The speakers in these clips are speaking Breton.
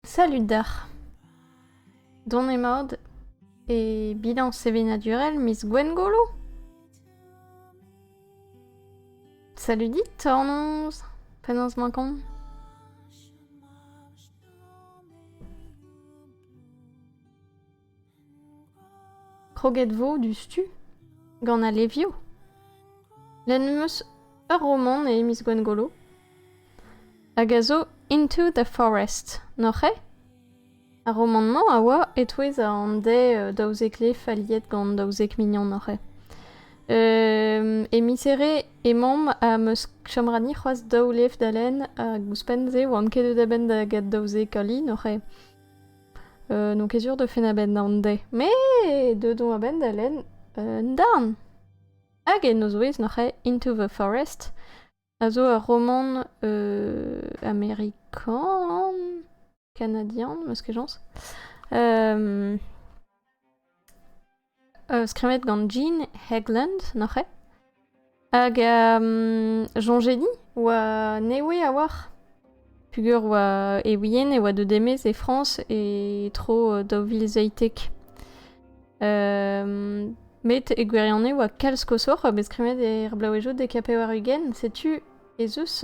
Salud deoc'h. Dont emaout e bilañs sevenadurel miz Gwengolo? Salud dit, hornoz, penaos 'mañ kont? Kroget 'vo diouzhtu gant al levioù. Lenn 'm eus ur romant e miz Gwengolo hag a zo Into the Forest, n'oc'h eo? Ar romant-mañ a oa e-touez an dez daouzek lef aliet gant daouzek mignon oc'h eo. E miz-here emaomp ha 'm eus chom ra ni c'hoazh daou lef da lenn hag ouzhpenn-se 'oamp ket deuet a-benn da get daouzek ali, n'oc'h eo? Euh, donc ket sur de fin a-benn an de. Me deuet on a-benn da len un darn. Hag e nozwez noc'he Into the Forest, a zo ur roman euh, américain, canadien, meus ket jañs. Euh, skrivet gant Jean Hegland, noc'h eo? Hag soñjedi oa newe a-walc'h peger oa e wien e oa deuet e-maez e Frañs e tro daou vil zeitek. met e gwirionez oa kalz koshoc'h bet skrivet er blaouezioù dek ha pevar-ugent. Setu ez eus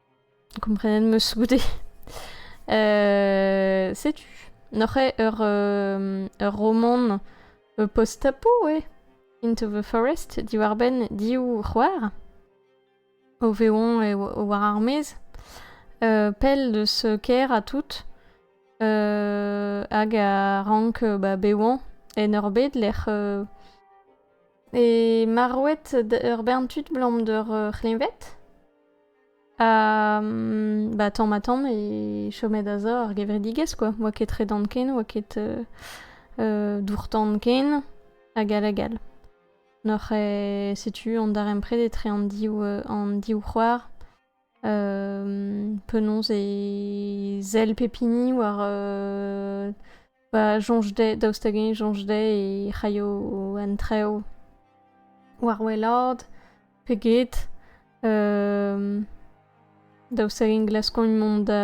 Komprenet 'meus goude. setu, n'oc'h eo ur, ur romant post-apo eo? Into the Forest, diwar-benn div c'hoar o vezañ war ar maez, pell deus kêr ha tout, hag a rank ba bevañ en ur bed lec'h eo marvet ur bern tud 'blam d'ur c'hleñved. Ba tamm-ha-tamm e chomet aza ar gevredigez kwa, 'oa ket tredan ken, 'oa ket dour-tan ken, hag all hag all. N'oc'h setu an darempred etre an div an div c'hoar. penaos e sell pep hini war Pa soñj dezhe, daoust hag-eñ soñj dezhe e c'haio an trev war wellaat pe get. daoust hag-eñ glaskont mont da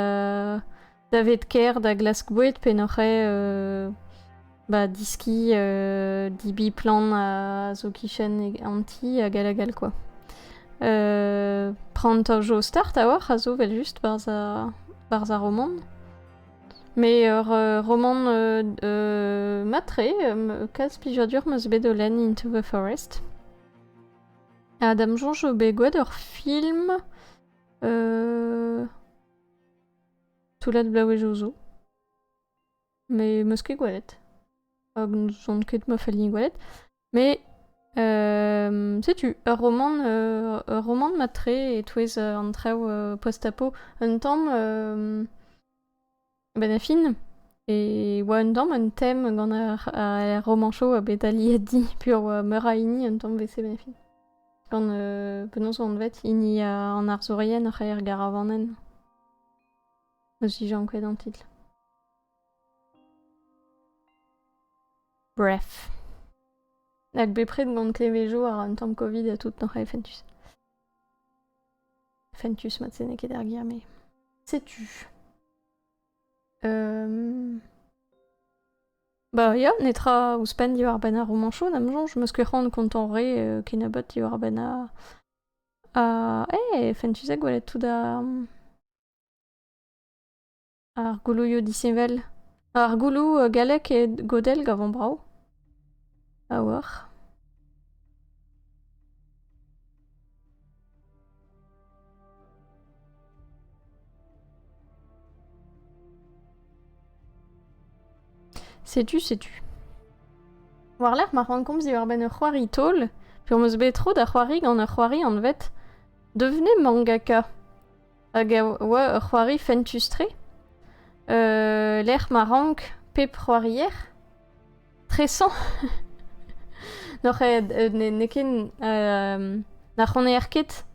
daved kêr da glask boued pe n'oc'h eo ba diskiñ dibiñ plant a zo 'kichen an ti hag all hag all kwa. Prantañ jo start a-walc'h a zo 'vel just 'barzh ar romant. Met ur romant mat-tre. Kalz plijadur 'm eus bet o lenn Into the Forest. Ha da 'm soñj eo bet gwet ur film toullad bloavezhioù zo. Met 'm eus ket gwelet. Hag n'on ket ma falli gwelet. Mais euh, setu, ur romant, euh, ur romant matre e-touez euh, an traoù euh, post-apo. Un tamm euh, benafin, e oa un tamm un thème gant ar, ar romancho bet aliedi pur oa meur a hini un tamm vese benafin. Gant euh, penaos an vet hini a- an arzourien oc'h aer garavanen. Eus ijank ket an titl. Bref. Hag bepred gant klevejo ar un tamm Covid ha tout, noc'h e fentus. Fentus mat se n'eo ket ar ger, mais setu. Euh... Bah ya, netra ouzhpenn diwar-benn ar romañchoù, n'am soñj, meus ket c'hoant kontañ re euh, kennebeut diwar-benn a... a... eh, fentus ha gwelet tout da... Ar goulouioù disheñvel. Ar gouloù gallek e godell gavomp brav. A-walc'h. Setu, setu. War-lerc'h ma rankomp diwar-benn ur c'hoari taol, pe'm eus bet tro da c'hoari gant ur c'hoari anvet Devenez mangaka. hag a oa ur c'hoari fentus-tre, lec'h ma rank pep c'hoarier tresañ. N'oc'h n'eo ket na c'honaer ket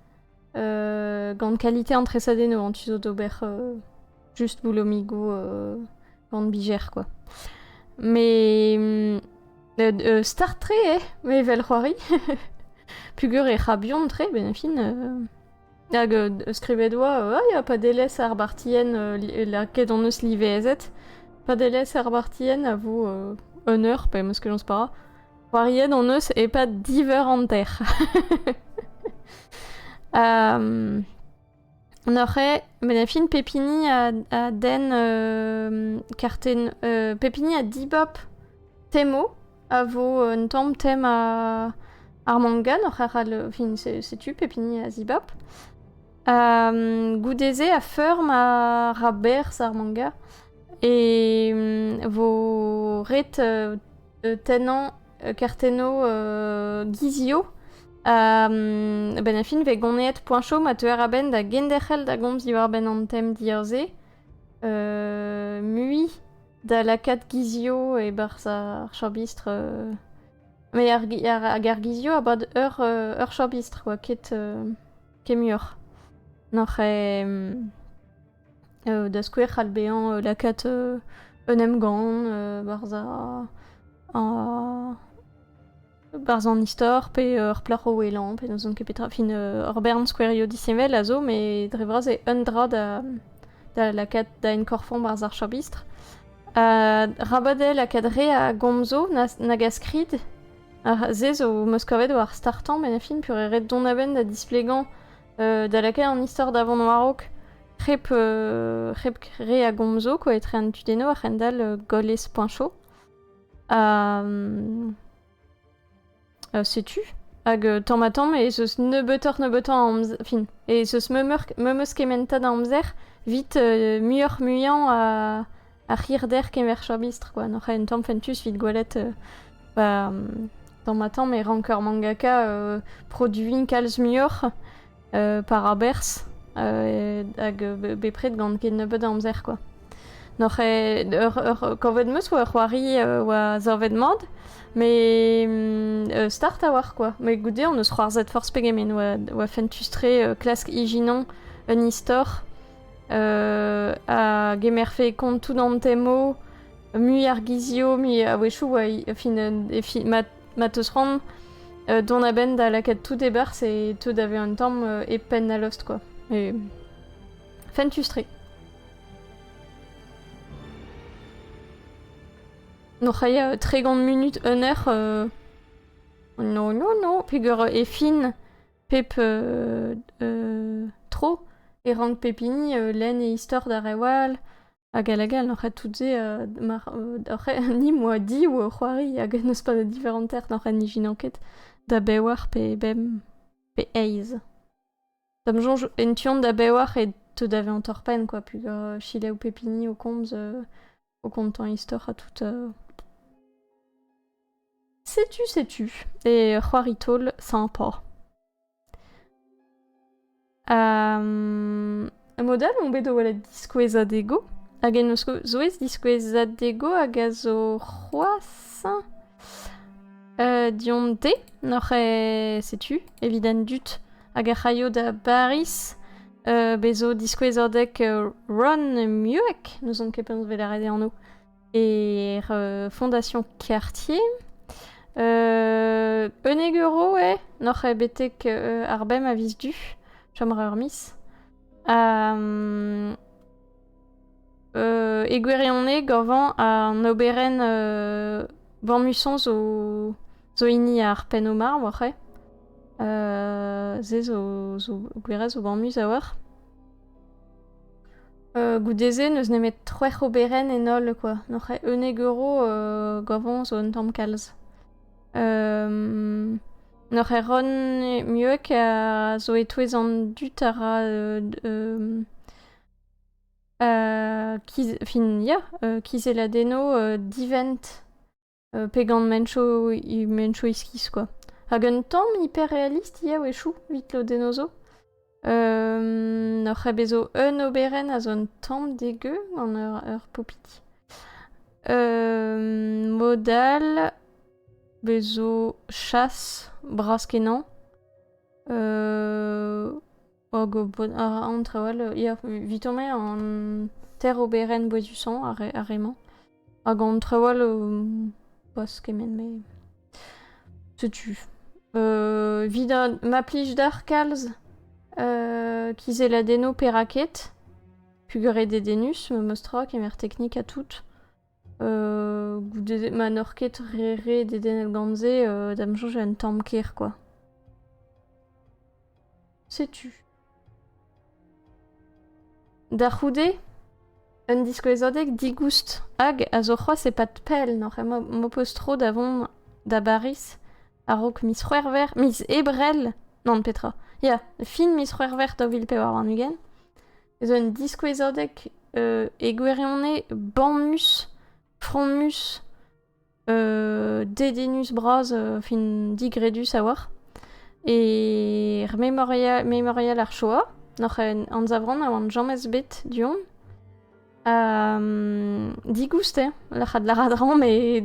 gant kalite an tresadennoù, tu zo d'ober just boulomigoù gant bijer, quoi. Mais start-tre eo, evel c'hoari. Pugur e c'habion-tre, ben fin... Hag euh, skrivet oa, ah, ya, padelezh ar bartien, euh, lakaet hon eus livezet. Padelezh ar bartien a vo euh, un eur, pe meus kenaus para. C'hoariet hon eus e-pad diveur an ter. um, on aurait, mais la fine Pepini a, a den euh, karten, euh, Pepini a dibop Temo, a vo un tamm tem ar manga n'oc'h arall fin setu pep hini a zibab. goude-se a feur ma ra berzh ar manga e vo ret tennañ kartennoù gizio a-benn a fin vez goneet poañchoù ma teuer a-benn da genderc'hel da gomz diwar-benn an tem dir-se mui da lakaat gizio e-barzh ar chabistr. euh, Met ar, gi- ar- hag ar gizio a bad ur, euh, ur chabistr oa ket, euh, ket muioc'h. Noc'h e... euh, da skouer c'hall bezañ euh, lakaat euh, un emgann euh, barzh ar- ar- Barzh an istor pe ur plac'h o ouelañ pe n'ouzon ket petra. Fin ur bern skouerioù disheñvel a zo met dre vras eo un dra da, da lakaat da enkorfañ barzh ar chabistr. Ha rabadell lakaat re a gomzoù nag a skrid. Ha se zo 'm eus kavet war startañ met fin pur eo ret dont a-benn da displegañ da lakaat an istor da vont war-raok hep, hep re a gomzoù quoi, etre an tudennoù a c'hendall gollez.cho. setu hag euh, tamm ha tamm e zeus nebeutoc'h nebeutoc'h a amzer fin e zeus memeus kementa da amzer vit euh, muioc'h muiañ a ar c'hirder kemer chabistr quoi n'oc'h en tamm fentus vit gwelet euh, ba tamm ha tamm e rank ur mangaka produiñ kalz muioc'h par aberzh hag bepred gant ket nebeut a amzer kwa. Noc'h eo ur kavet 'm eus oa c'hoari oa savet mat met start a-walc'h kwa. Met goude hon eus c'hoarzhet forzh pegement oa fentus-tre klask ijinon un istor a gemerfe kont tout an temo mui ar gizio mui a-wechoù oa fin ma ma teus c'hoant euh, dont a-benn da lakaat tout e-barzh et te daver un tamm euh, e penn al lost, quoi. Et fentus-tre. Non, c'haya tregont minut, un heure... Euh... Non, non, non, peger e fin pep euh, euh, tro e rank pep hini euh, len e istor d'ar rewal, Hag a lagal oc'h tout-se, euh, mar, oc'h, ni moa div c'hoari hag n'eus pas de différentes n'oc'h ijinañ ket da bewar pe bemp pe eizh. Da'm soñj en tu-hont da bewar e teu da vezañ torr-penn kwa, pugur chilev pep hini o komz euh, o kontañ istor ha tout. euh. Setu, setu. Et c'hoari taol, sympa. mod all on bet o welet diskouezadego hag en o zouez diskouezadego hag a zo c'hoazh dion dezhe n'oc'h e setu evit an dud hag ec'h aio da Bariz bez zo diskouezadeg Ron Mueck n'ouzon ket penaos e vez lâret e anv e Fondation Quartier. Euh, Euneguero, eh Noc'h eo betek euh, ar bem a vis du. Chomra ur mis. Euh, euh, e gwirionez, gorvan an oberenn euh, Vanmusson zo, zo hini ar penn omar, war e. Euh, ze zo, zo gwirez zo banmus a war. Goude-se n'eus nemet c'hwec'h oberenn en holl kwa, n'oc'h ket unnek euro gavañ zo un tamm kalz. n'oc'h ket ron mieux ka zo e-touez an dud a ra kiz- fin ya kizelladennoù divent. pe gant menchoù, menchoù iskis quoi. Hag un tamm hyperrealist eo echoù, evit lodenno zo. Um, ur c'hebezo un oberenn a zo un tamm degeu gant ur, ur popiti. Um, mod all bezo chas bras-kenañ. Uh, Hag bod a ra an traoù all. Ya, evit emañ an ter oberenn boezusañ ar re-mañ. Hag an traoù all, pas kement me. Setu. Euh, Evit ma plij d'ar kalz, euh, kizeladennoù perak ket, pugret dedennus, memes tra, kemer teknik ha tout. goude ma n'oc'h ket re re dedennel gant se, da 'm soñj un tamm kêr kwa. Setu. Da c'houde, un diskouezadeg digoust hag a zo c'hoazh e-pad pell n'oc'h ket m'ho peus tro da vont da Bariz a-raok miz C'hwec'hver, miz Ebrel, non petra, ya, fin miz C'hwec'hver daou vil pevar warn-ugent, zo un diskouezadeg euh, e gwirionez bamus, fromus, euh, dedennus bras, euh, fin digredus a oar. E memorial, memorial ar Shoah, noc'h en anzavran a oan jamez bet du-hont. Ha um, digouste, lac'had laradran, me...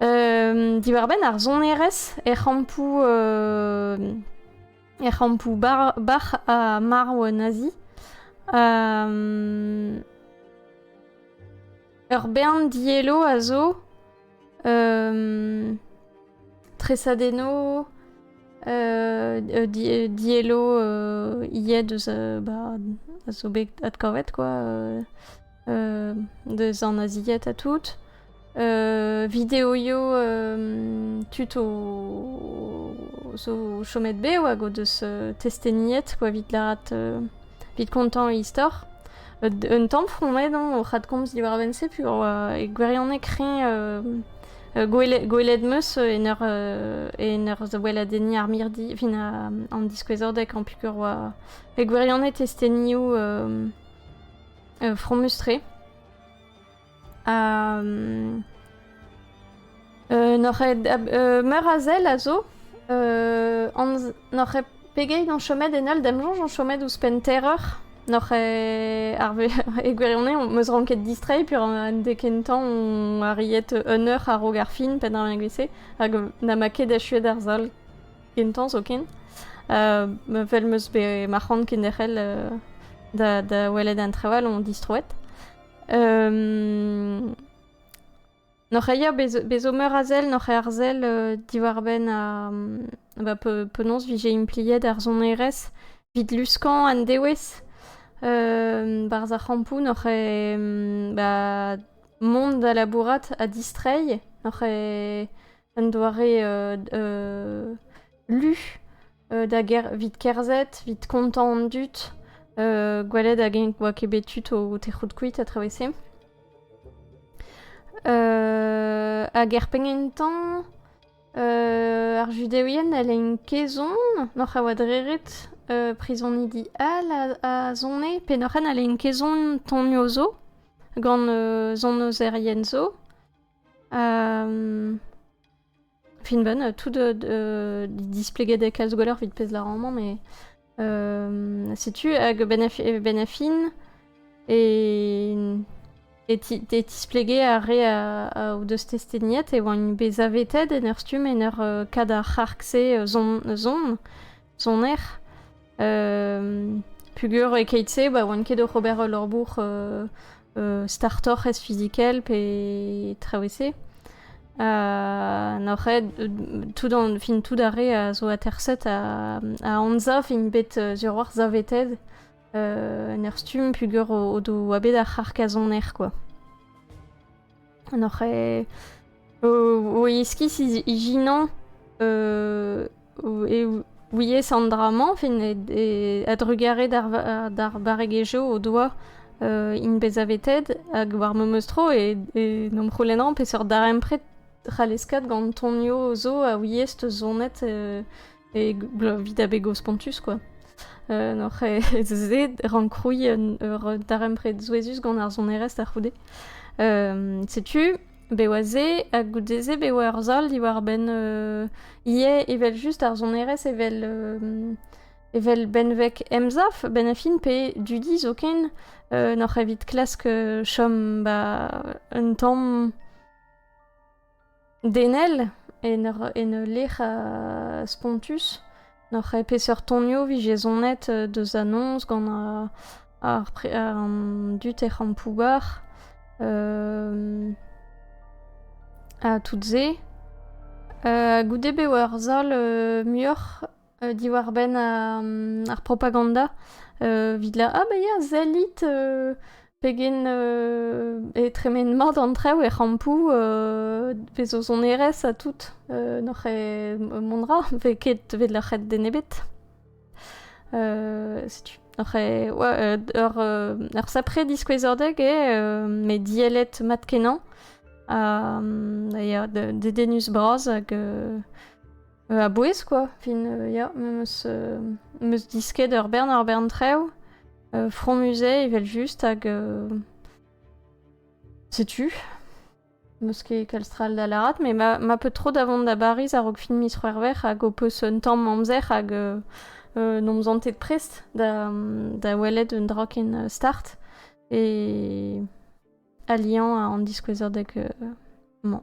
um, diwar-benn ar sonerezh er c'hampoù... Uh, er c'hampoù bac'h ha marv Nazi. Ur bern diello a zo. tresadenno, diello ivez deus a zo bet adkavet quoi. deus an nazied ha tout. videoioù tud zo chomet be hag o deus testeniet quoi evit lârat evit kontañ e istor. Un tamm fromet o c'hadkomz diwar a-benn-se pur e gwirionez kreñv gwelet meus en ur en ur weladenniñ ar mirdi fin an diskouezadeg an pikur oa e gwirionez testenioù fromus-tre. Ha... Euh, n'oc'h euh, meur a zel a zo euh, n'oc'h pegeit an chomet en holl damjonj an chomet ouzhpenn terreur n'oc'h ar e gwirionez on meus ranket distrei pur an de kentañ on arriet un eur a-raok ar fin pe da mek vese hag na ma ket achuet ar zol Kentañ zoken. Vel meus bet ma c'hoant kenderc'hel da, da welet an traoù all on distroet. N'oc'h eia bezo meur a sell, n'oc'h eo ar sell diwar-benn ba penaos vije impliet ar sonerezh evit luskañ an dewez. Barzh ar c'hampoù n'oc'h eo ba mont da labourat ha distreiñ, n'oc'h eo Un doare lu da ger evit kerzhet, evit kontañ an dud, gwelet hag-eñ oa ket bet tud o tec'hout kuit a-traoù-se. Hag er penn-kentañ, ar Judeouien a lein kaezon oc'h a oa dreret prizonidi all a zone, pennoc'h-henn a lein kaezon tonioù zo gant zonozerien zo. Finben, tout de, displeget e kalz gweler vit pez larañ-mañ, mais setu hag Benafin e e tisplegé ar re a o deus testeniet e oant bet zavetet en ur stumm en ur kad ar c'harg-se zon-zon soner. pugur e-keit-se, ba oan ket oc'h ober ul labour startoc'h ez fizikel pe traoù-se. Uh, n'oc'h tout an, fin tout ar re a zo aterset a, a anza fin bet uh, sur war zaveted uh, en ur stumm pugur o, o do oa bet ar c'harkazoner quoi. N'oc'h o iskis ijinañ e ouiez an dra-mañ a-drugarez d'ar barregezhioù o doa int bezavetet hag war memes tro e n'am c'houlennan peseurt darempred c'hall eskat gant tonioù zo a ouiez 'teus sonet e vit a bego spontus quoi. Euh, n'oc'h se rancrouilh un ur darempred souezhus gant ar sonerezh da c'houde. Euh, setu, be oa se, ha goude-se be oa ur sal diwar-benn euh, ivez evel just ar sonerezh evel, euh, evel benveg emsaf, ben a fin pe dudi zoken, euh, n'oc'h evit klask euh, chom ba un tamm Denel, en ur, en ul lec'h spontus, n'oc'h ket peseurt tonioù 'vit jezhoned deus anons gant ar pre- an dud er c'hampoù-bac'h ha tout se. goude bev ar sal muioc'h euh, diwar-benn euh, ar propaganda, evit la ah bah ya zellit pegen e tremen mat an traoù er c'hampoù vez eus hon erez ha tout n'oc'h e mondra ve ket vez loc'het den ebet setu Oc'h e, ouais, ur, ur sapre diskouezordeg eo, met diellet mat-kenañ. Ha, ya, dedenus bras hag A-bouez, quoi. Fin, ya, meus, meus disket ur bern ur bern traoù. Fromusé, evel-just, hag... Setu. Meus ket kalstral da lârat, mais ma, ma peu tro da vont da Bariz a-raok fin miz C'hwec'hver hag ho peus un tamm amzer hag euh, euh, n'om zantet prest da, da welet un dra ken euh, start et alian an diskouezadeg mañ.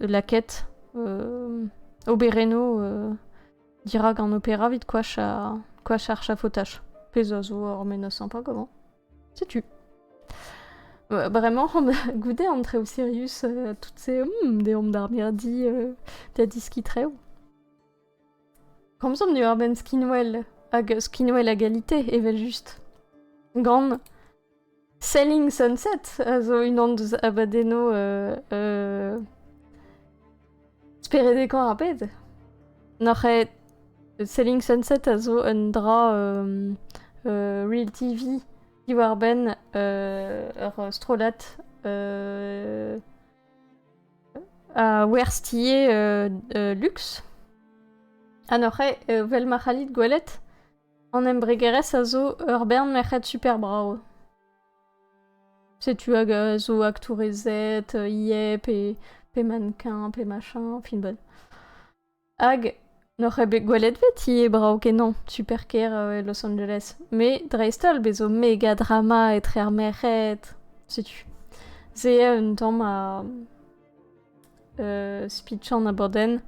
Laket, oberennoù dirak an opera evit koach ar chafotaj. Pezh a zo ur menoz pas comment. Setu. Vraiment, goude an traoù serius, toutes ces... Hmm, deomp d'ar mirdi, da diskit reoù. Komzomp diwar-benn skinwel hag skinwel a galite, evel-just. Gant Selling Sunset a zo unan deus abadennoù euh, euh, speredekoñ ar bed. N'oc'h ket Selling Sunset a zo un dra euh, euh, Real TV diwar-benn euh, ur strollad euh, Werz-tier luks. Ha neuze, vel ma c'hallit gwelet, an embregerezh a zo ur bern merc'hed super brav. Setu hag a zo aktourezed, IEP, pe mannequin, pe machin, fin-bod. Hag n'oc'h ket bet gwelet veti eo brav-kenañ super-kêr Los Angeles. Met dreist-holl bez' zo megadrama etre ar merc'hed. Setu. Se eo un tamm a uh, speechañ an abadenn.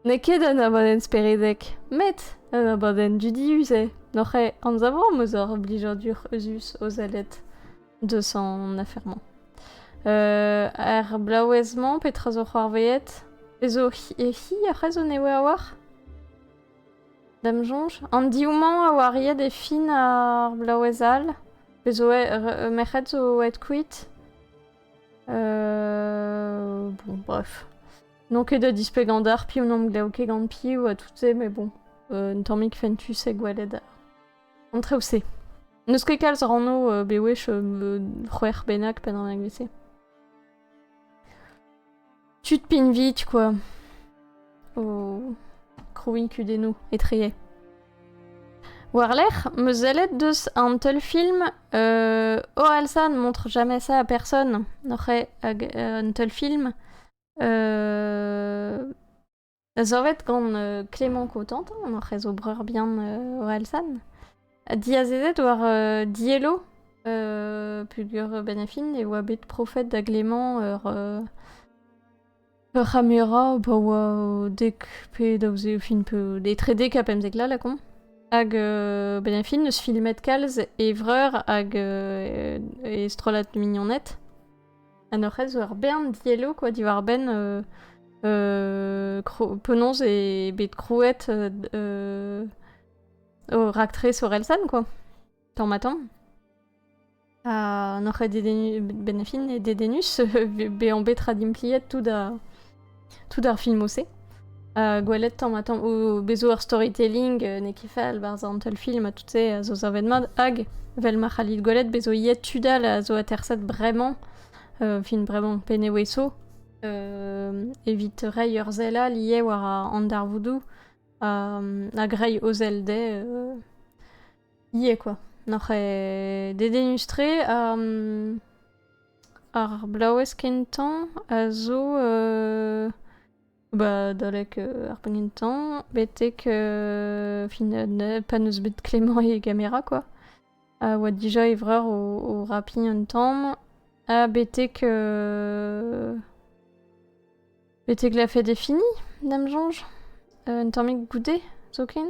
N'eo ket un abadenn speredek, met un abadenn dudius eo. N'oc'h ket anzavomp eus hor blijadur eus o sellet. deus an afer-mañ. Euh, er blaouez-mañ, petra zo c'hoarveet? E zo e hi ar c'hrezo newe a oar? Dam soñj. An div-mañ a oa riet e fin ar blaouez all. Pe zo e merc'hed zo aet kuit. Euh, bon, bref. Non ket da displegañ d'ar piv n'am glav ket gant piv ha tout se, mais bon. Un tammig fentus e gwelet En treoù-se. N'eus ket kalz rannoù euh, bewech euh, c'hwec'h bennak pe naonek vese. Tu te pinvit, quoi. O krouin kudennoù etreye. Warlerc'h, me zellet deus an teul film euh, Ohalsan montre jamais ça à personne, noc'he hag euh, un teul film euh, Savet gant euh, Clément Cotentin, on hoc'h eus o breur bihan euh, Orelsan, diazezet war euh, Diello, euh, pugur benefin, e oa bet profet da Glément ur euh, ur c'hamera ba oa o dek pe daouzek fin peu etre dek ha pemzek la lakaomp. Hag euh, benefin eus filmet kalz e vreur hag euh, e strollad mignoned. An hoc'h zo ur bern dielloù quoi diwar-benn penaos eo bet krouet ho raktres Orelsan quoi, tamm-ha-tamm. Ha n'oc'h ket dedennus, benefin, dedennus bezañ bet raddimpliet tout da... tout ar filmoù-se. Uh, gwelet tamm ha tamm o bezo ur storytelling uh, n'eo ket fall barzh an teulfilm ha tout se a zo savet mat hag vel ma c'hallit gwelet bezo iet tud all a zo aterset bremañ uh, film bremañ Penneweso uh, evit reiñ ur sell all ivez war an darvoudoù um, hag reiñ o sell dezhe uh, ivez quoi. Noc'h eo dedenustre um, Ar blaouez kentañ a zo ba adalek ar penn kentañ betek fin pa n'eus bet Klemmañ e gamera kwa, a oa dija e vreur o rapiñ un tamm ha betek betek la fête est finie da'm soñj, un tammig goude zoken.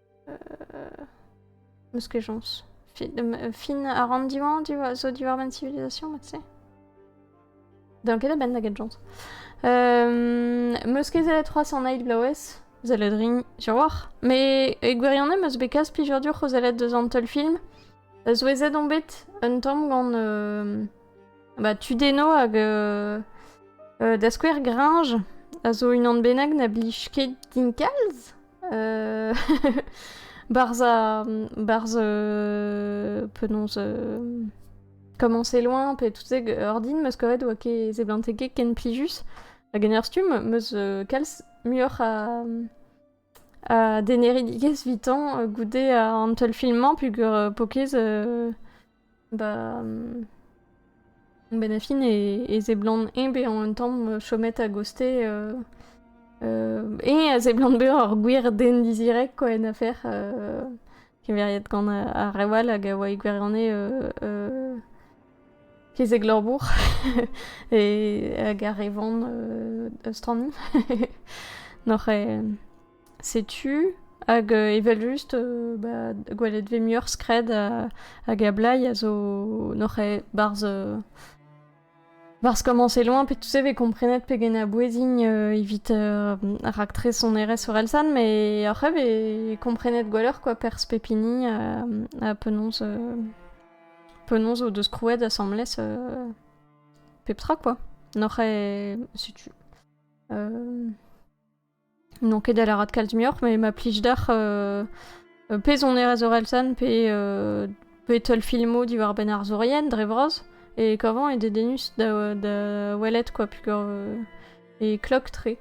Eus kejañs. Fin a ran diwañ zo diwar ma civilisation, ma tu D'an ket a-benn da genjañs. Um, meus ket zelet c'hoazh an eil blaouez, zelet rin, jaouac'h. Me e gwirionez meus bet kas plijadur dioc'h o zelet deus an teulfilm. Souezhet on bet un tamm gant uh, bah, Tudeno hag uh, uh, da skouer Gringe, a zo unan bennak na blij ket din kalz. euh, Barz a... Barz... Euh, penaos... Euh, comment c'est loin, pe toutes ces ordin, meskoret oa ke zeblanteke ken plijus. A generstum, meus euh, kalz muioc'h a... a deneridikez vitan euh, goude an teulfilmañ, pugur euh, pokez euh, Bah, hum, ben a fin e, e seblant eñ bezañ un tamm euh, chomet a-gostez euh, euh, eñ a seblant bezañ ur gwir den dizirek quoi en afer euh, keveriet gant a- ar rev all hag a oa e gwirionez euh, euh, kezeg labour e, hag ar re van euh, a stranni. N'oc'h eo... Setu, hag evel-just, ba gwelet 'vez muioc'h skred hag ablai a zo n'oc'h ket 'barzh barzh komañse loin pe tout se 'vez komprenet pegen a-bouezign evit raktres sonerezh orelsan met oc'h ivez komprenet gwelloc'h kwa perzh pep hini ha penaos penaos o deus krouet asambles pep tra kwa n'oc'h ket setu N'on ket da lâret kalz muioc'h, mais ma plij deoc'h euh, euh, pezonerezh Orelsan pe, euh, pe teulfilmoù diwar-benn arzourien dre vras e kavant e dedennus da, da welet quoi pugur euh, e klok-tre.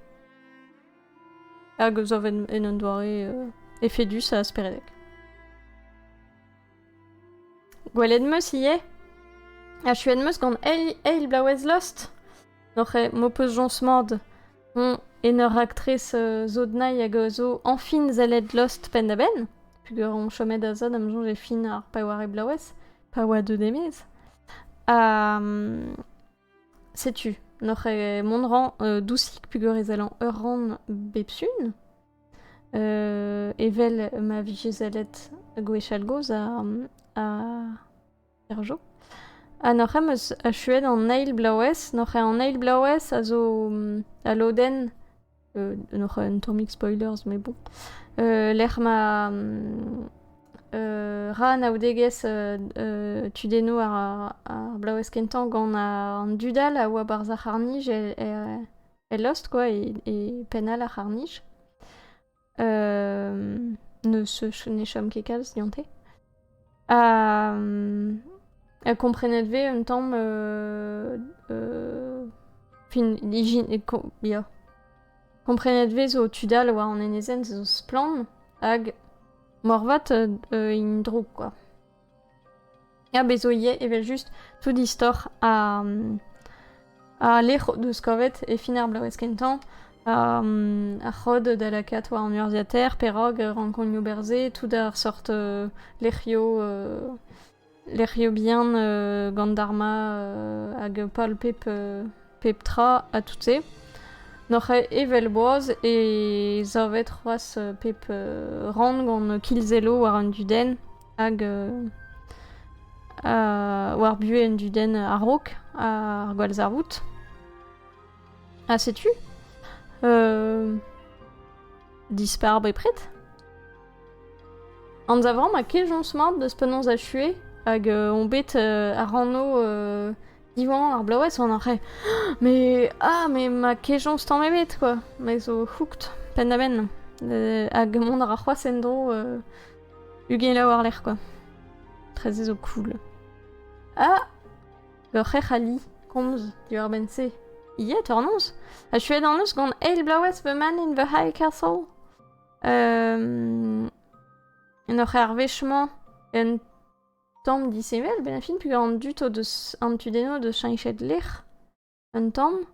Hag zo en un doare euh, efedus ha speredek. Gwelet 'm eus ivez. Achuet 'm eus gant eil, eil blaouez Lost. N'oc'h ket m'ho peus jañs mat. Hoñ en ur raktres euh, zo dnailh hag euh, zo añfin sellet Lost penn-da-benn. Peogwir on chomet da zad am soñj e fin ar paewarek blaouez, pa oa deut e-maez. Ha mm, setu, n'oc'h ket mont 'rañ euh, dousik peogwir e sellan ur rann bep sun. Evel ma vije sellet gwechall-gozh er Jo. Ha n'oc'h ket 'm eus achuet an eil bloavezh. N'oc'h ket an eil bloavezh a zo al lodenn n'oc'h ket un tammig spoilers met bon lec'h ma ra anaoudegezh tudennoù ar bloavezh kentañ gant an dud all a oa 'barzh ar c'harr-nij e e lost quoi, e, e penn all ar c'harnij. Euh, ne se ne chom ket kalz dionte. Ha, ha komprenet ve un tamm euh, euh, fin ijin ya. Komprenet ve zo tud all war an enezenn zo splann hag morvat euh, int drouk quoi. Ya, bez zo ivez evel-just tout istor ar ar lec'h o deus kavet e fin ar bloavezh kentañ ar c'hod da lakaat war an urzhiataer perak rankoñioù berzet tout ar sort lec'hioù lec'hioù bihan gant Dharma hag pal pep pep tra ha tout-se. N'oc'h aet evel boaz e savet c'hoazh pep rann gant kilzello war an dudenn. hag war buhez un dudenn a-raok ar gwallzarvoud. Ha setu dispar bepred. Anzavant ma kejañs mat deus penaos achuer hag on bet ar anv diwan ar bloavezh on arre mais ah mais ma kejañs tamm ebet quoi mais zo hooked penn-da-benn hag mont a ra c'hoazh en-dro Ugent laou war-lerc'h kwa. Treze zo cool. Ah! Ur c'hrec'h a li komz diwar-benn-se. Ie, tornoz? Achuet an eus gant eil bloaz the man in the High Castle? Um, en ur c'hervech-mañ un tamm disheñvel, benn a fin, pegañ an dud o deus an tudenno deus cheñchet lec'h un tamm.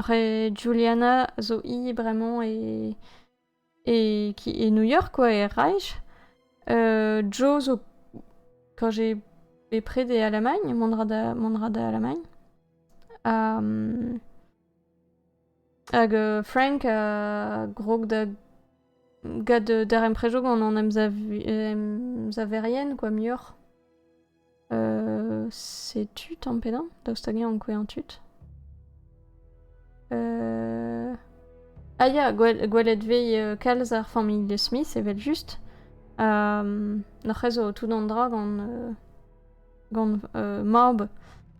He Juliana zo hi bremañ e e ki- e New York quoi, e Reich. Joe zo quand j'ai bepred e Alamagn, mont 'ra da mont 'ra da Alamagn. Hag Frank a grog da gad darempredoù gant an emsavi- emsaverien quoi muioc'h. Euh, setu tamm pennañ, daoust hag eñ ankouañ tud. Euh... Ah ya, gwelet vez euh, kalz ar familh de Smith, evel-just. Um, Noc'h ez zo tout an dra gant, euh, gant euh, mab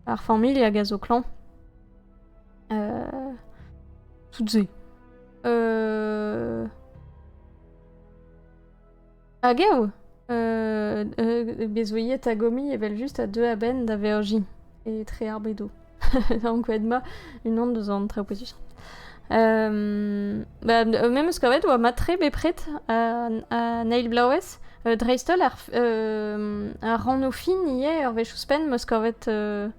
ar familh hag a zo klañv. Euh... Tout se. Euh... Hag eo? Euh, bezoiet a gomi evel-just a deu a-benn da Vergi, etre Arbedo. Ankoet ma, unan deus an traoù pesuc'h. Euh, ba, me eus kavet oa matre bepred an eil blaouez, euh, dreist-holl ar, euh, ar ranno fin ivez, ur wech ouzhpenn, meus kavet euh,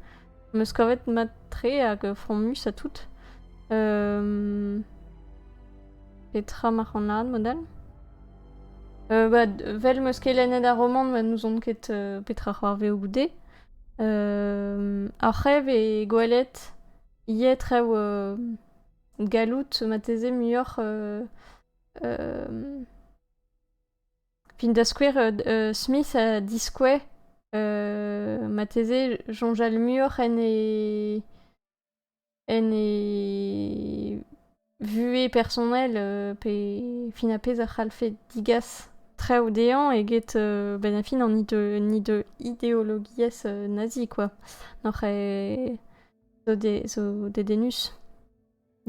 Am eus kavet mat-tre hag fromus ha tout. Euh... Petra mac'h an ad, model euh, bah, Vel meus ket lennet ar romant, ma n'ouzon ket euh, petra c'hoarve o goude. Euh, ar c'hrev e gwelet iet rev euh, gallout mateze muioc'h euh, euh, Fin da skouer, euh, Smith a diskouez marteze soñjal muioc'h en e en e vuhez personnel euh, pe fin ar pezh a c'hallfe digas traoù dezhañ eget euh, benn ar fin an ide- an ide- ideologiezh euh, nazi, quoi. N'oc'h ket zo de- zo dedennus.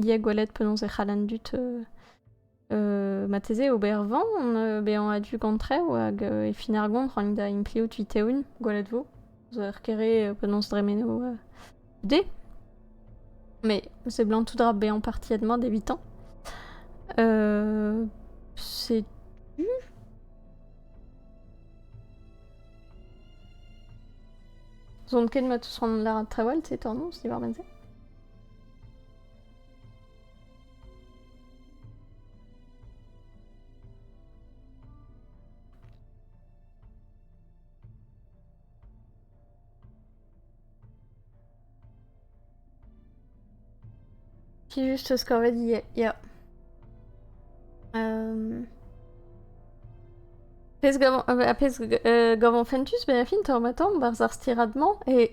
Ia gwelet penaos e c'hall an dud marteze ober van bezañ a-du gant traoù hag e fin ar goañv rank da impliout vit-eeun, gwelet 'vo. Zo ur kere penaos dremeno goude. Me seblant tout dra bezañ partiet mat evitañ. setu. Zon ket mat ouzh c'hoant lâret trawal, te tornoz diwar-benn se? Juste ce qu'en fait ya. Euh... Pez gavan, euh, pez euh, gavan fentus, ben fin tor ma tomb, bar zar stiradman, et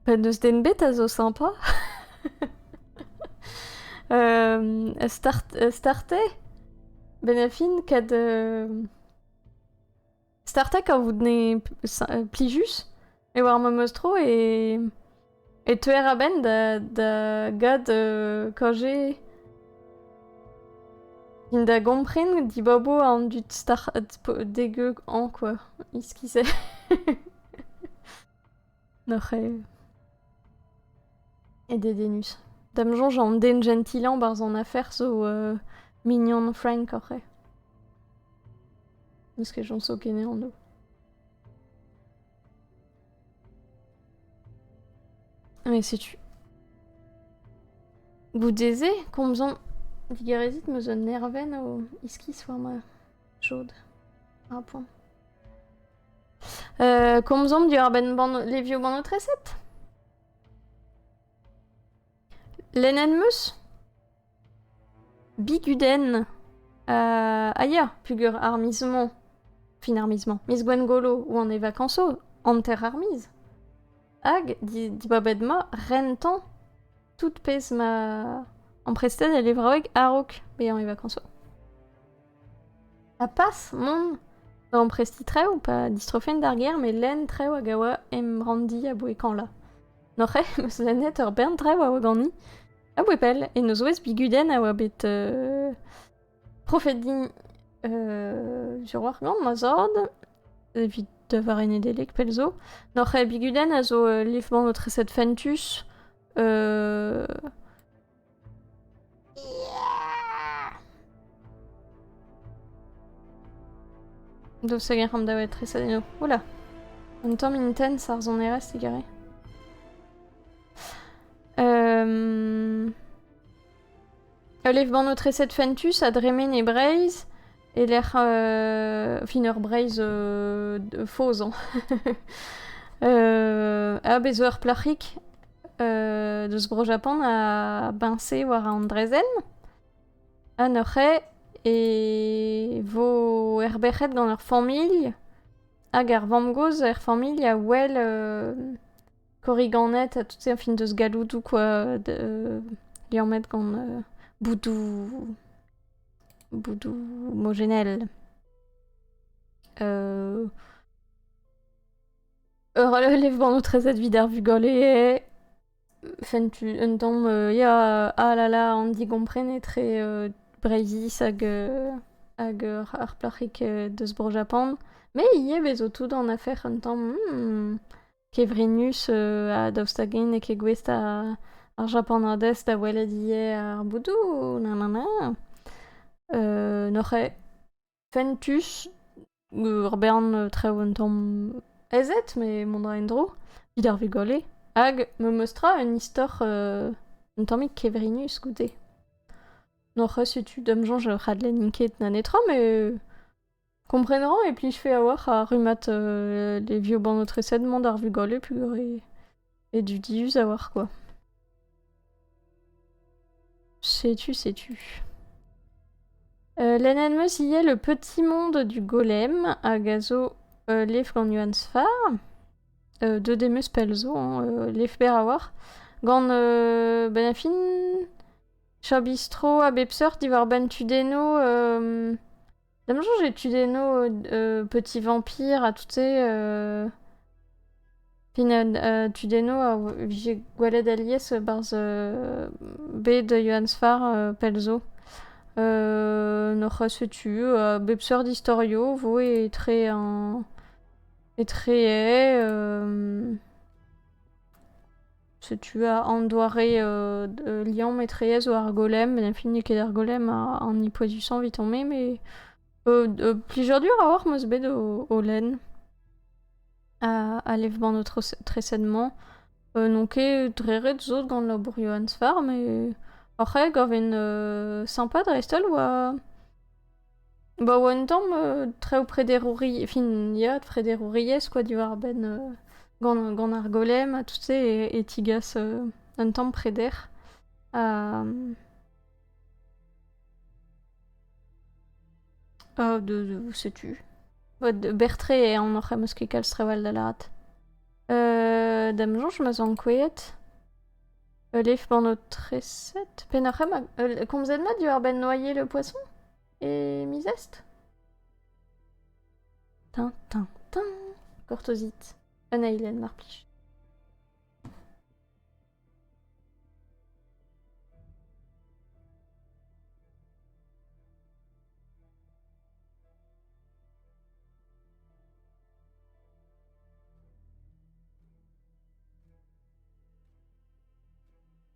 Pe n'eus den bet a zo sympa euh, start, euh, starter Benafin, kad... Euh... Starter quand vous tenez plijus, e war ma meus tro e... E teuer a-benn da, da gad euh, quand j'ai... Fin da gompren dibabo an dud start degeu an, quoi. Iskise. Oc'h e dedennus. D'am soñj an den jentilañ 'barzh an afer zo mignon Frank oc'h Eus kejañso kenesañ anv. Mais setu. Goude-se, komzomp digarezit 'm eus un nervenn o iskis war ma chaod. Ar poan. Euh, komzomp diwar-benn ban- levioù bannoù-treset? Lennet 'm eus? Bigudenn. Euh, ah ya, pugur armismo. Fin armisement. Miss Gwengolo ou an evakanso, hanter armiz. Hag, di- dibabet ma, rentan. Tout pezh ma amprestet e levraoueg a-raok bezañ e vacances. Ha pas mont da amprestiñ traoù, pas distrofenn d'ar gêr, met lenn traoù hag a oa em ranndi aboe kañla. N'oc'h eo em eus lennet ur bern traoù a oa ganin, aboe pell, en o zouez bigudenn a oa bet... euh, Profet din euh, Juroar gant ma zord, evit da vare Nedeleg pell zo. Noc'h e bigudenn a zo uh, liv-mañ o treset fentus. Uh... Do seger am davet treset eno. Oula! Un tamm intens ar zonerez egare. Um... Ul levanotreset fentus a dremen e Breizh e-lec'h euh, fin ur Breizh euh, faozañ. euh, ha bez zo ur plac'hig euh, deus Bro-Japan a biñse war an draezhenn ha neuze e vo erberc'het gant ur familh hag ar vamm-gozh er familh a wel euh, korriganed ha tout ça, fin deus galloudoù quoi, de, liammet gant euh, boudoù, boudoù homogénel. Euh, Relève bon notre aide vider vugolé. Fentu, un tom, euh, ya, ah là là, on dit comprene très euh, brevis hag, euh, hag euh, ar plac'hik euh, deus Bro Japan. Mais il y a bezo tout en affaire un tom, hmm, kevrinus ha daoust hag-in n'eo ket gouest ar japanadez da welet ivez ar boudoù, nanana. N'oc'h ket fentus ur bern traoù un tamm aezet, met mont a ra en-dro evit ar vugale. Hag me'm eus tra un istor un tammig kevrinus goude. N'oc'h ket setu da'm soñj ur c'hadlenn int ket na netra, met Komprenañ e plijfe a-walc'h ar rummad levioù-bannoù-treset mont d'ar vugale pugale e dudius a-walc'h kwa. Setu, setu. lennet 'm eus ivez Le Petit Monde du Golem hag a zo levr gant Yohann Sfar. Deuet em eus pell zo hein, levr berr a-walc'h gant ben a fin, Chabistrot a bep seurt diwar-benn tudennoù Da'm soñj e tudenno euh, Petit Vampire ha tout se. euh, Fin euh, tudenno a vije gwelet alies barzh euh, bed Johann Sfar euh, pell'zo. Euh, n'oc'h ket setu euh, bep seurt istorio 'vo etre an etre euh, Setu an doare liamm etreyezh war ar golem. Met n'em fell n'eo ket ar golem an hini poezusañ evit on-me, met plijadur a-walc'h 'm eus bet o lenn a lev-bann ho treset-mañ. n'on ket dre ret sot gant labourioù Ants-Farm, met hoc'h ae gavet sympa dreist-holl oa... Ba oa un tamm traoù prederouri- fin ya prederouriezh quoi diwar-benn gant ar golem ha tout-se e tigas un tamm preder ha setu Bertrais eo an oc'h em eus ket kalz trawal da lâret. da'm soñj ma 'z an kouezhet. Ul lef-pornotreset Pennoc'h emañ komzet mat diwar-benn noyer le poisson et mi-zest Tin, tin, tin Kortozit. Un eilen, mar plij.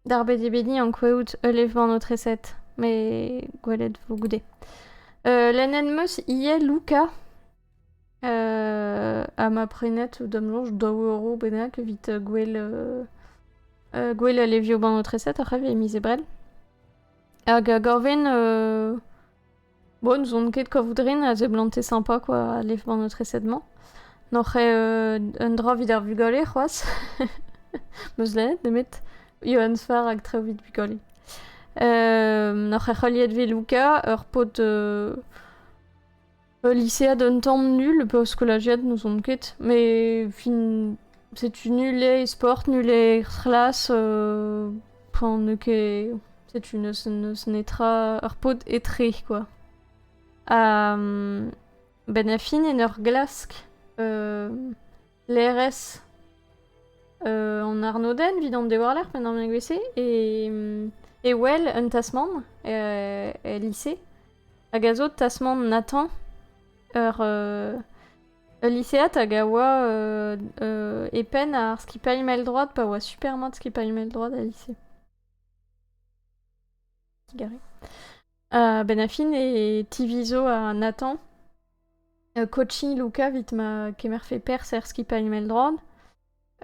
Darbet eo bet din ankouaout ul levr-man o treset, met gwelet vo goude. Euh, Len en meus ivez Luca, euh, ha ma prenet d'am soñj daou euro bennak evit euh, gwell euh, euh, gwell al levioù-ban o treset, ar c'hev e miz Ebrel. Hag uh, gorven uh, Bon, n'ouzon ket kavout rin a zeblante sympa quoi a lev-mañ notre eset-mañ. N'oc'h eo un dra evit ar vugale c'hoazh. Meus lennet nemet Johann Sfar hag Traoù evit bugale. n'oc'h ket c'heuliet vez Luca, ur paotr ul lisead un tamm nul, pe ur skolajiad, n'ouzon ket. Mais fin, setu nul eo e sport, nul eo er c'hlas. Enfin, n'eo ket... Setu n'eus netra... Ur paotr etre, quoi. Ha... Ben a fin en ur glask euh, l'RS euh, en Arnoden evit an dewarler pen an gwese e, e wel un tasmant e, e lycée hag a zo tasmant Nathan ur, euh, Ul lisead hag a oa euh, euh, e penn ar skipailh mell-droad pa oa super mat skipailh mell-droad al lise. Gare. Euh, ben Affin e tivizo ha Nathan euh, coaching Luca vit ma kemer fait pers er skipailh mell-droad.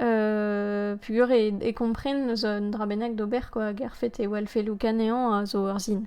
Euh, pugur e, e kompren eus un dra bennak d'ober quoi, ger fait e welfe Luca nehañ a zo ur zin.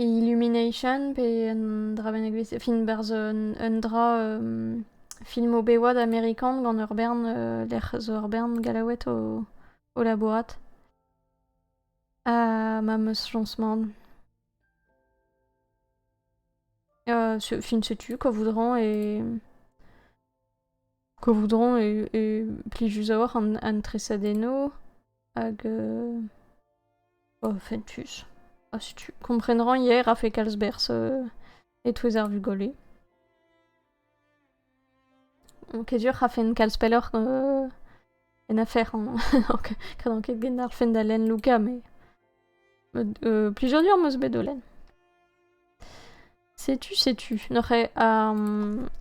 E Illumination, pe un dra bennak vez. Fin, berzh un, dra um, film o bewad amerikan gant ur bern uh, lec'h zo ur bern gallaoued o, o labourat. Ha ma meus lancement. Uh, fin, setu quoi voudront et Kovoudron eo plijus a-walc'h an tresadennoù hag fentus. Ha setu, komprenan yer a-fe kalz berzh e-touez ar vugale. Ket sur rafen kalz pelloc'h en afer hañ. Kredan ket genarlfen da lenn Luka, met plijadur 'm eus bet o lenn. Setu, setu. Neuze,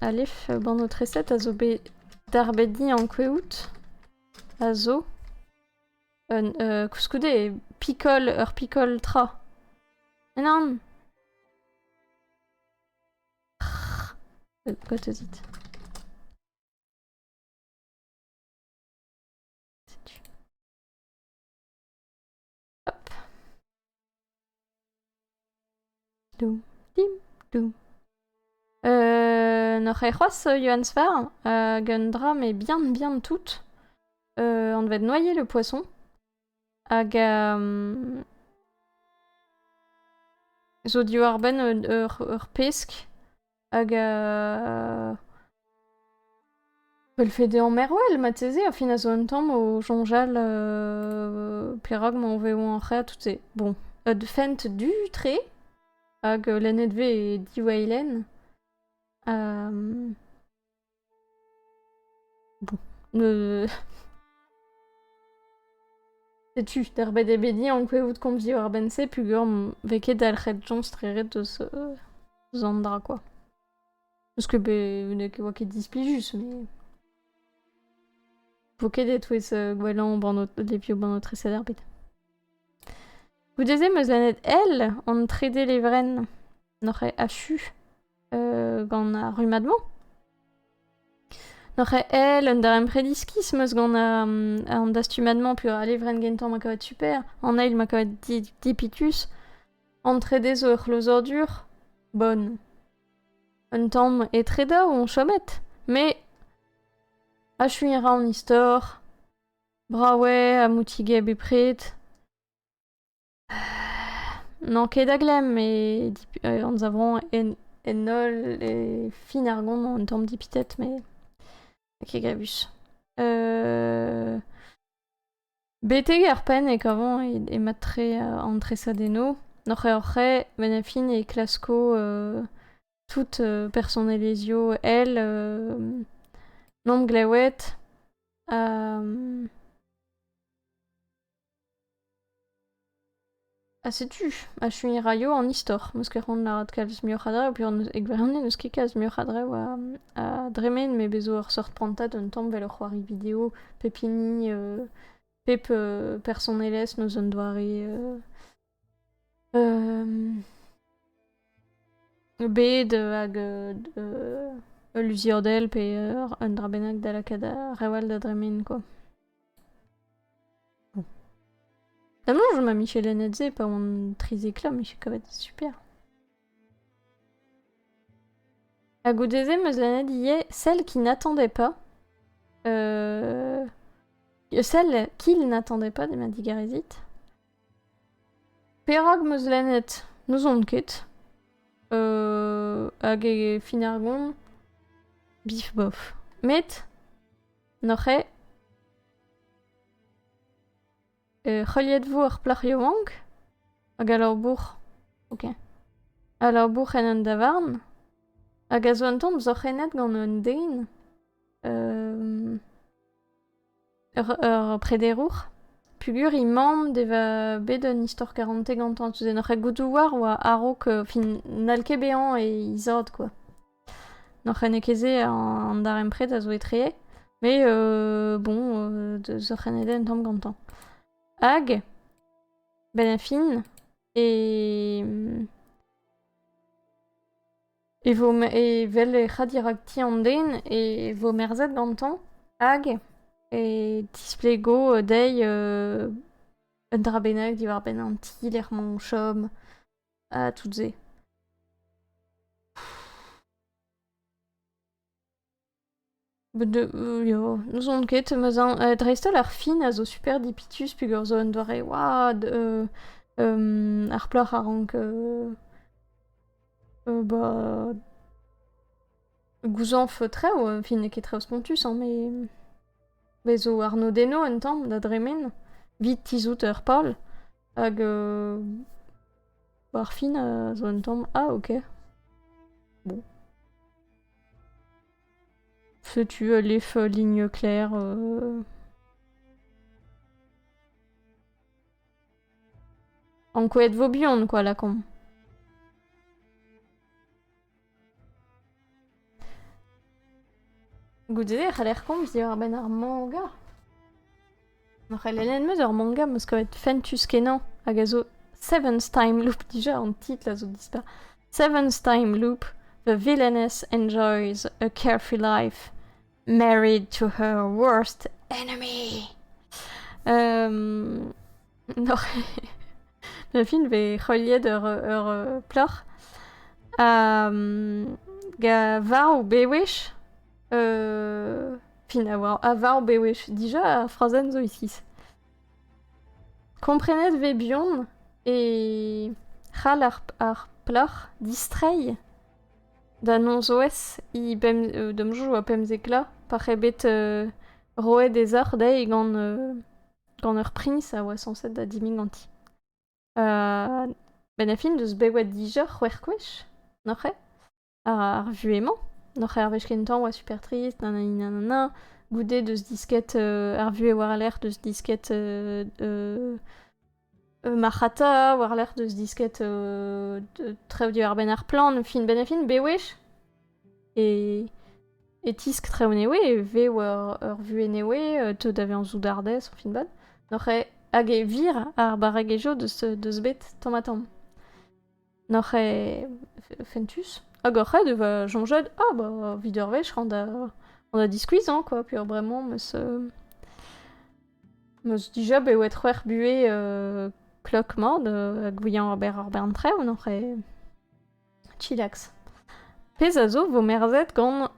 alef, bann ho treset a zo bet darbediñ ankouaout a zo un euh, koulskoude pikol ur pikol tra. Nan! Gotozit. Setu. Doum, dim, doum. Euh, N'oc'h ket c'hoazh euh, Johann Sfar hag un dra mais bien bien tout. Euh, on devait noyer le poisson. Hag euh, zo div arbenn ur, ur, ur pesk. Hag Peulfe deomp Merwel marteze, a fin a zo un tamm o soñjal perak ma vev an c'hêr tout-se. Bon, ud fent du-tre hag lennet 'vez e Diweilen. Bon, euh... Setu derbet eo bet ankouaout komz diwar-benn-se pugur vez ket dalc'het Jones tre ret eus eus an dra quoi. Parce que be ne oa ket displijus mais Vo ket e-touez euh, gwellañ banno depio banno treset ar bet. Goude-se 'm eus lennet El, an trede levrenn, n'oc'h achu? gant ar rummad-mañ. Noc'h èl un darempred iskis meus gant an dastumad-mañ peus a levrenn gentañ ma kavet super, an eil ma kavet dipitus, an trede zo ur c'hlozadur, bon. Un tamm etre daou on chomet, met achuiñ a ra an istor, brav eo ha moutige bepred. N'on ket da glemm e dip- anzavont en en holl e fin ar gont an tamm dipitet met n'eo ket gaviz. Betek ar penn e kavont e e mad-tre an tresadennoù. Oc'h-oc'h-c'hwec'h benn a fin e klasko tout personelezhioù èl n'omp glewet ha Ha setu, achuiñ 'raio an istor, 'meus ket c'hoant lâret kalz muioc'h a dra peogwir e gwirionez n'eus ket kalz muioc'h a dra a dremen met bez 'zo ur seurt prantad un tamm 'vel ur c'hoari video pep hini pep personelezh 'neus un doare bed hag ul luziadell pe un dra bennak da lakaat a-rewall da dremen kwa. Damals ma michelennet-se pa oan trizek vloaz 'meus kavet super. Ha goude-se 'meus lennet ivez Celle qui n'attendait pas. Celle qu'il n'attendait pas de ma digarezit. Perak 'm eus lennet n'ouzon ket. hag e fin ar gont bif bof. Met n'oc'h ket heuliet 'vo ar plac'h yaouank hag al labour ok al labour en un davarn hag a zo un tamm sorc'hennet gant un den. Ur prederour peogwir emaomp da vezañ bet un istor karante gantañ. Tu en oc'h gouzout war oa a-raok fin n'hall ket bezañ e izod kwa. N'hoc'h ene ket se an darempred a zo etre met bon deus hoc'h ene den tamm gantañ. Hag benn ar fin e e vo evel ec'h a dirak ti an den e vo merzet gantañ hag e tisplego dezhi un dra bennak diwar-benn an ti lec'h-mañ o chom ha tout se. N'ouzon ket, dreist-holl ar fin a zo super dipitus peger zo un doare oad. ar plac'h a rank gouzañv traoù, fin n'eo ket traoù spontus hañ, me zo arnodennoù un tamm da dremen, evit tizhout ur pal. Hag ar fin a zo un tamm, ah ok. Setu ul lef-ligne clair. Ankouaet vo buan kwa lakaomp. Goude e c'haller komz diwar-benn ar manga. Ar c'helenner 'meus ur manga 'meus kavet fentus-kenañ hag a zo Seven's Time Loop. Dija an titl a zo dispar. Seven's Time Loop. The villainess enjoys a carefree life married to her worst enemy. Um, nor- Le film vez heuliet ur ur euh, plac'h. Ha, mm, ga war o bewech Euh... Fin a war avar bewech dija ar frazenn zo iskis. Komprenet vez buan e c'hall ar, ar plac'h distreiñ da nonzoez he bem, euh, damjoù a pemzekla pa c'he bet euh, roet e zoc'h dezhi gant, euh, gant ur priñs a oa sañset da dimiñ ganti. Uh, ben a fin deus bewet dija c'hwec'h gwech, noc'he? ar vuhez-mañ. Oc'h ar wech kentañ 'oa super trist, nananina, goude deus disket ar vuhez war-lerc'h deus disket marc'hata, war-lerc'h deus disket trev diwar-benn ar plant, fin benn ha fin, bewech. E e tisk trev newe, e vez war ur vuhez newe, teu da vezañ soudardez, fin bat. Oc'h hag e vir ar barregezhioù deus bet tamm-ha-tamm. N'oc'h ket fentus Hag hoc'h aet e va soñjet Ah, bah, vit ur wech on da diskuizhañ, quoi, peurbremañ 'meus meus dija bet oet c'hwec'h buhez klok-mat ha gouiañ ober ar bern traoù, n'oc'h ket chillax. Pezh a zo 'vo merzet gant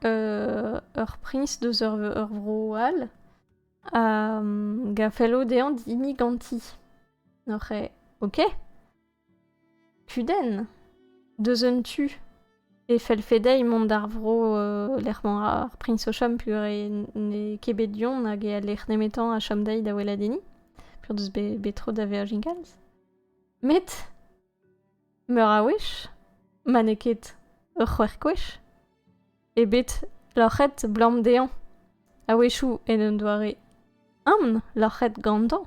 ur priñs deus ur vro all hag a fello dezhañ dinnig ganti. N'oc'h ket OK? Kudenn deus un tu e fellfe dezhi mont d'ar vro lec'h mañ ar priñs o chom peogwir n'eo ket bet du-hont hag e lec'h nemetañ a chom dezhi da weladenniñ peogwir deus bet tro da Virgin Galls. Met meur a wech ma n'eo ket ur c'hwec'h gwech ebet loc'het 'blam dezhañ. A-wechoù en un doare ampn loc'het gantañ,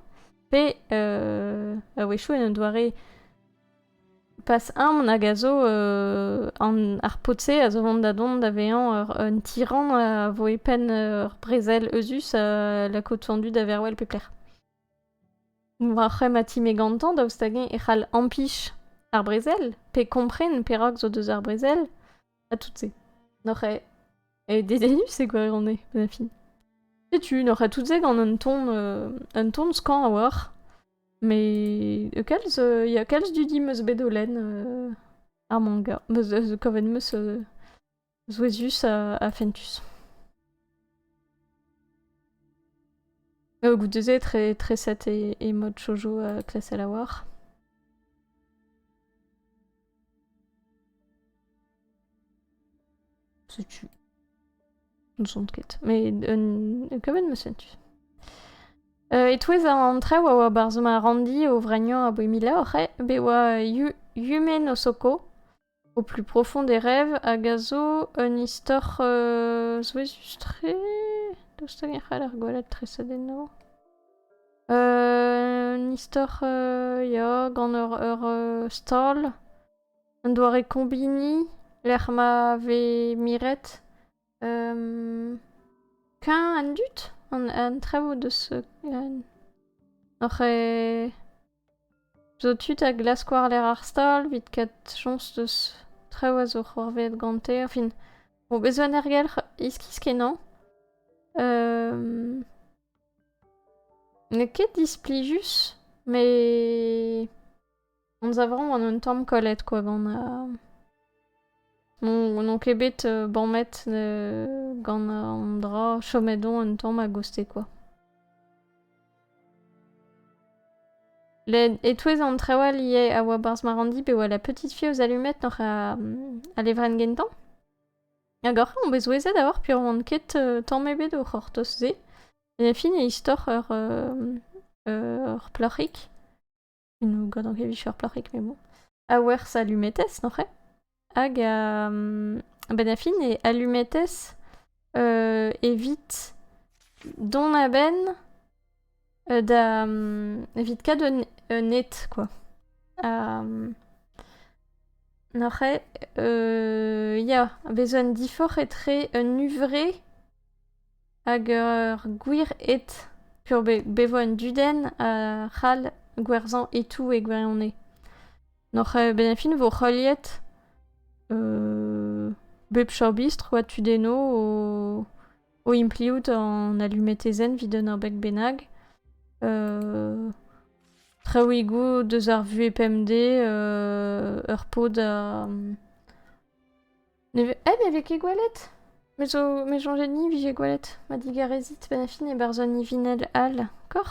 pe euh, a-wechoù en un doare pas ampn hag a zo euh, an, ar pod-se a zo vont da dont da vezañ ur, un tyran a vo e penn ur brezel euzhus a la côte fendue d'Averwell pe plec'h. War c'hremm ma time gantañ, daoust hag-eñ e c'hall ampich ar brezel, pe kompren perak zo deus ar brezel, À toutes ces. N'oc'h e... E dedennus e gwirionez, Penafi. Setu, n'oc'h a toutes gant un ton, euh, un ton skan a-walc'h. Mais euh, kalz, euh, y a kalz dudi meus bet o len euh, ar manga. Meus euh, kavet meus euh, souezhus ha, ha fentus. Euh, goude-se, très, très sat et, et mode shoujo à classe à la war. Setu. Ne sont ket. Mais un... kavet ma setu. Euh, e-touez an traoù a oa barzh ma randi o vragnon a boe mila oc'h be oa Yumen Osoko o plus profond des rêves hag a zo un istor euh, souezhus-tre. Daoust hag e c'hall ar gwellet tresadennañ Un istor ya gant ur stal, un doare kombiniñ lec'h ma vez miret, keñ an dud, an traoù deus oc'h zo tud a glask war-lerc'h ar stal evit ket chañs deus traoù a zo c'hoarvezet gante, enfin, vo bezañ en ergelc'h iskis-kenañ. N'eo ket displijus, mais on zavron an un tamm kollet quoi gant uh, mon n'on ket bet uh, bamet uh, gant an dra chomet on un tamm a-goste quoi. Les, e-touez an traoù ivez a oa barzh ma ranndi pe oa la petite fille aux allumettes oc'h a, a levrenn gentañ. Hag oc'h on bet souezhet a oar piv oan ket euh, tamm ebet o c'hortoz-se. En a fin e istor ur euh, euh, ur plac'hig. Nous gant ket ur plac'hig, mais bon. A werzh alumetes, n'oc'h Hag a... ben a fin e alumetes euh, evit dont a-benn da evit kaout un un ed quoi. Neuze ya, bez 'zo un diforc'h etre un huñvre hag ur gwir ed. P'eo bet 'vo un dudenn c'hall gwerzhañ e-tou e gwirionez. Neuze benefit 'vo heuliet bep chorbistr oa tudennoù o... o impliout an alumetezenn evit un abeg bennak. Euh, traoùigoù deus ar vuhez pemdez, euh, ur pod a... Ne ve... Eh, me vez ket gwelet Me zo... me soñjet ni vije gwelet ma digarezit ben a fin e barzh an ivinell all, kor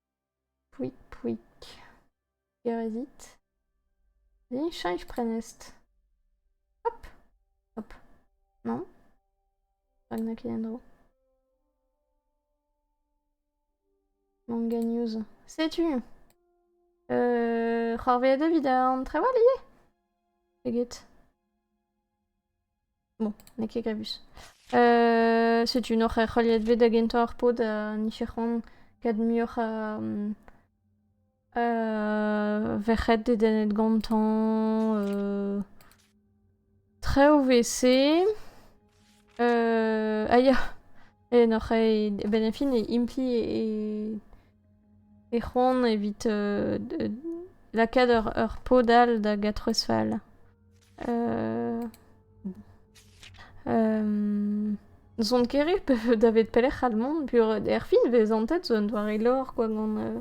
Pouig-pouig. Gerezit. Cheñch prenestr. Hop. Hop. Non. Pas que naquit en dro. Manga news. Setu. Euh, c'hoarveet evit an trevall ivez. Eget. Bon, n'eo ket grevus. setu n'oc'h ket c'heuliet bet da gentañ ar pod ha n'iffe c'hoant ket muioc'h a verc'hed dedennet gantañ. traoù 'vez se. a ya. En hor c'hei a-benn ar fin e impli e, e c'hoant evit euh, d- lakaat ur, ur pod all da gatroez fall. Euh, euh, N'zont ket re pe- davet pelec'h all mont, puer erfin vez antet zo un doare lor quoi gant, euh,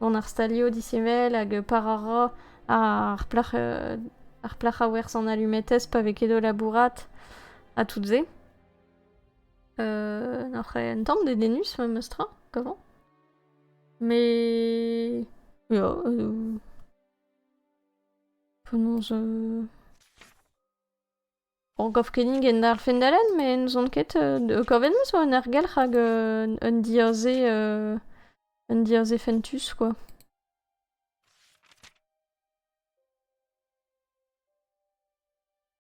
gant ar stalio disheñvel hag euh, par a ra ar plac'h euh, ar plac'h a werz an alumetez pa vez ket o labourat ha tout se. Euh, n'oc'h en tamm dedennus memes tra qu'avant Mais... Ja, euh... Penaos... Euh... Bon, gav kenig en darfen dalen, mais n'ouzon ket... Euh, kavet meus oa un argelc'h hag euh, un diaze... Euh... Un diaze fentus, quoi.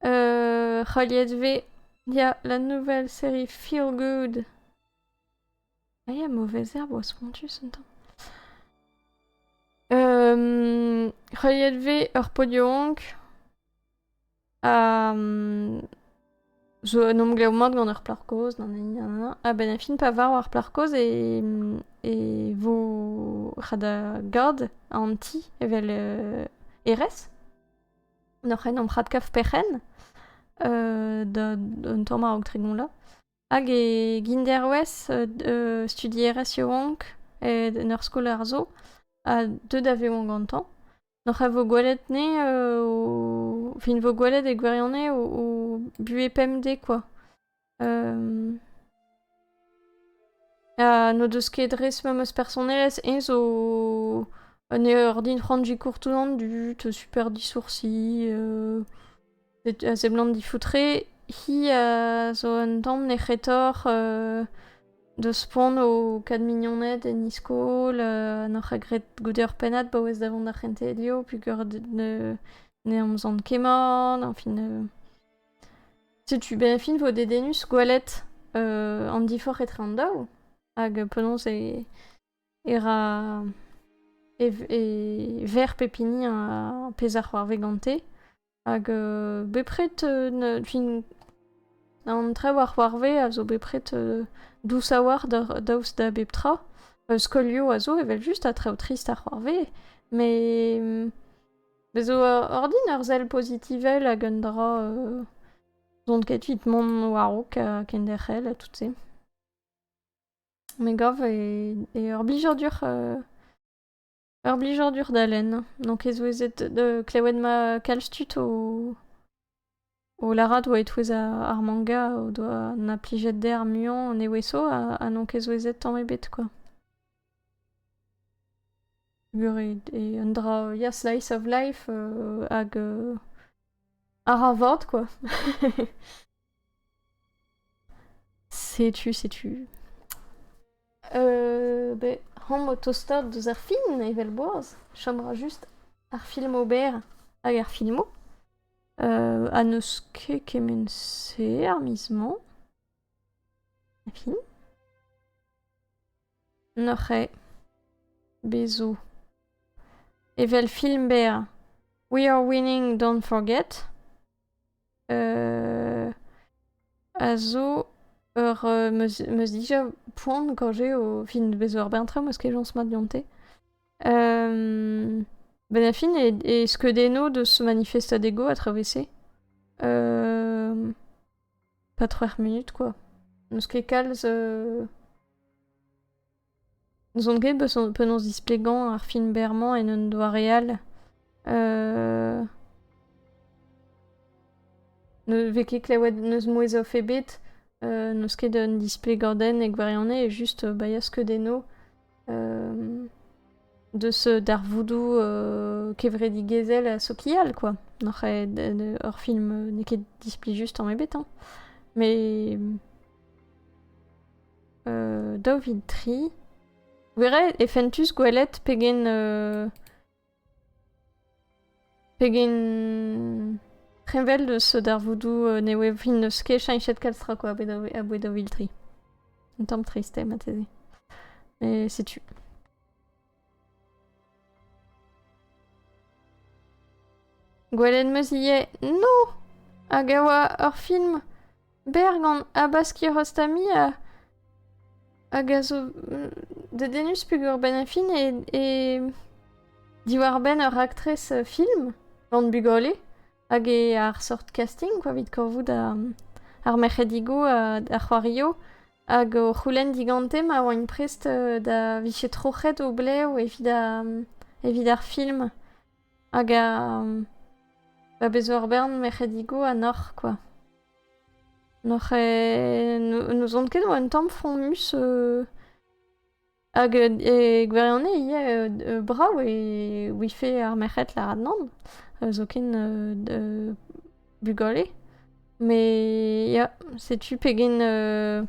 C'haliet vez ya la nouvelle série Feel Good. Ah ya, mauvaise herbe oa spontus un tamm. Euh, c'haliet vez ur podiaonk a mm, zo un emglev mat gant ur plac'h kozh, nanani, nanana. Ha ben a fin pa var war plac'h kozh e, mm, e vo c'hada gard an ti evel euh, erez. Noc'h en omp radkaf perc'henn d'un tamm a-raok tregont la. Hag e genderwez studierez yaouank en ur skol ar zo ha deuet a vezañ gantañ. Noc'h a vo gwelet ne o... fin vo gwelet e gwirionez o buhez pemdez kwa. n'o deus ket res memes personelezh. Eñ zo un ordin c'hoant kourtouzan dud, super disoursi, a seblant difoutre. Hi a zo un tamm nec'hetoc'h deus poan o kad mignoned en e-skol, n'oc'h graet goude ur pennad paouez da vont d'ar c'hentelioù peogwir ne amzant ket mat, añfin... Setu be fin vo dedennus gwelet euh, an diforc'h etre an daou. Hag penaos e, e ra e, e ver pep hini ar pezh a c'hoarve gante. Hag euh, bepred, euh, fin, an trev a c'hoarve a zo bepred euh, dous a-walc'h daoust da bep tra. Euh, skolioù a zo evel just a trev trist a c'hoarve, mais mm, Bez' zo ordin ur sell pozitivel hag un dra euh, z'on ket evit mont war-raok ha kenderc'hel ha tout-se. Me gav e, e ur blijadur euh, ur blijadur da lenn. Donc e souezhet de klevet ma kalz tud o O lârat 'oa e-touez ar manga o doa 'na plijet dezhe ar muiañ an evezho ha n'on ket souezhet tamm ebet kwa. Gwelet eo un dra ya slice of life hag a ra vat kwa. Setu, setu. Euh, be, hañ, o tostaat deus ar fin, evel boaz, chom ra just ar film ober hag ar filmoù. Euh, ha n'eus ket kement-se ar miz-mañ. Ha fin. Neuze, bez' zo. Evel film berr We Are Winning, Don't Forget a zo ur meus meus dija poan gant se o fin bezañ ur bern traoù meus ket jañs mat deonte. benn ar fin e skeudenno deus manifestadego a-traoù 'vese. Pas c'hwec'h munut kwa. N'eus ket kalz n'ouzon ket penaos displegañ ar film berr-mañ en un doare all. Ne vez ket klevet n'eus mouezh off ebet, n'eus ket un displegadenn e gwirionez, just bailhañ skeudennoù. deus darvoudoù kevredigezhel sokial, quoi. N'oc'h ur film n'eo ket displi just tamm ebet, hein. Mais daou vil tri, e fentus gwelet pegen Pegen preñvel eus darvoudoù euh, nev evit n'eus ket cheñchet kalz tra quoi aboe daou vil tri. Un tamm triste mateze. Mais c'est tu. Gwelenn meus ivez. Non! Hag a oa ur film Berr gant habaskiñ rostamie a, hag a zo mm, dedennus peogwir benn ar fin e, e diwar-benn ur raktres euh, film gant bugale hag e ar sort casting quoi, evit korvout ar, ar merc'hedigoù, uh, ar c'hoario hag o c'houlenn digante ma oaint prest euh, da viche troc'het o blev evit, a, evit ar film. Hag a bez ur bern merc'hedigoù ha n'oc'h kwa. N'oc'h n'ouzon ket oa un tamm fromus hag e gwirionez ivez brav e ouife ar merc'hed lâret nann zoken bugale. Mais ya, setu pegen euh,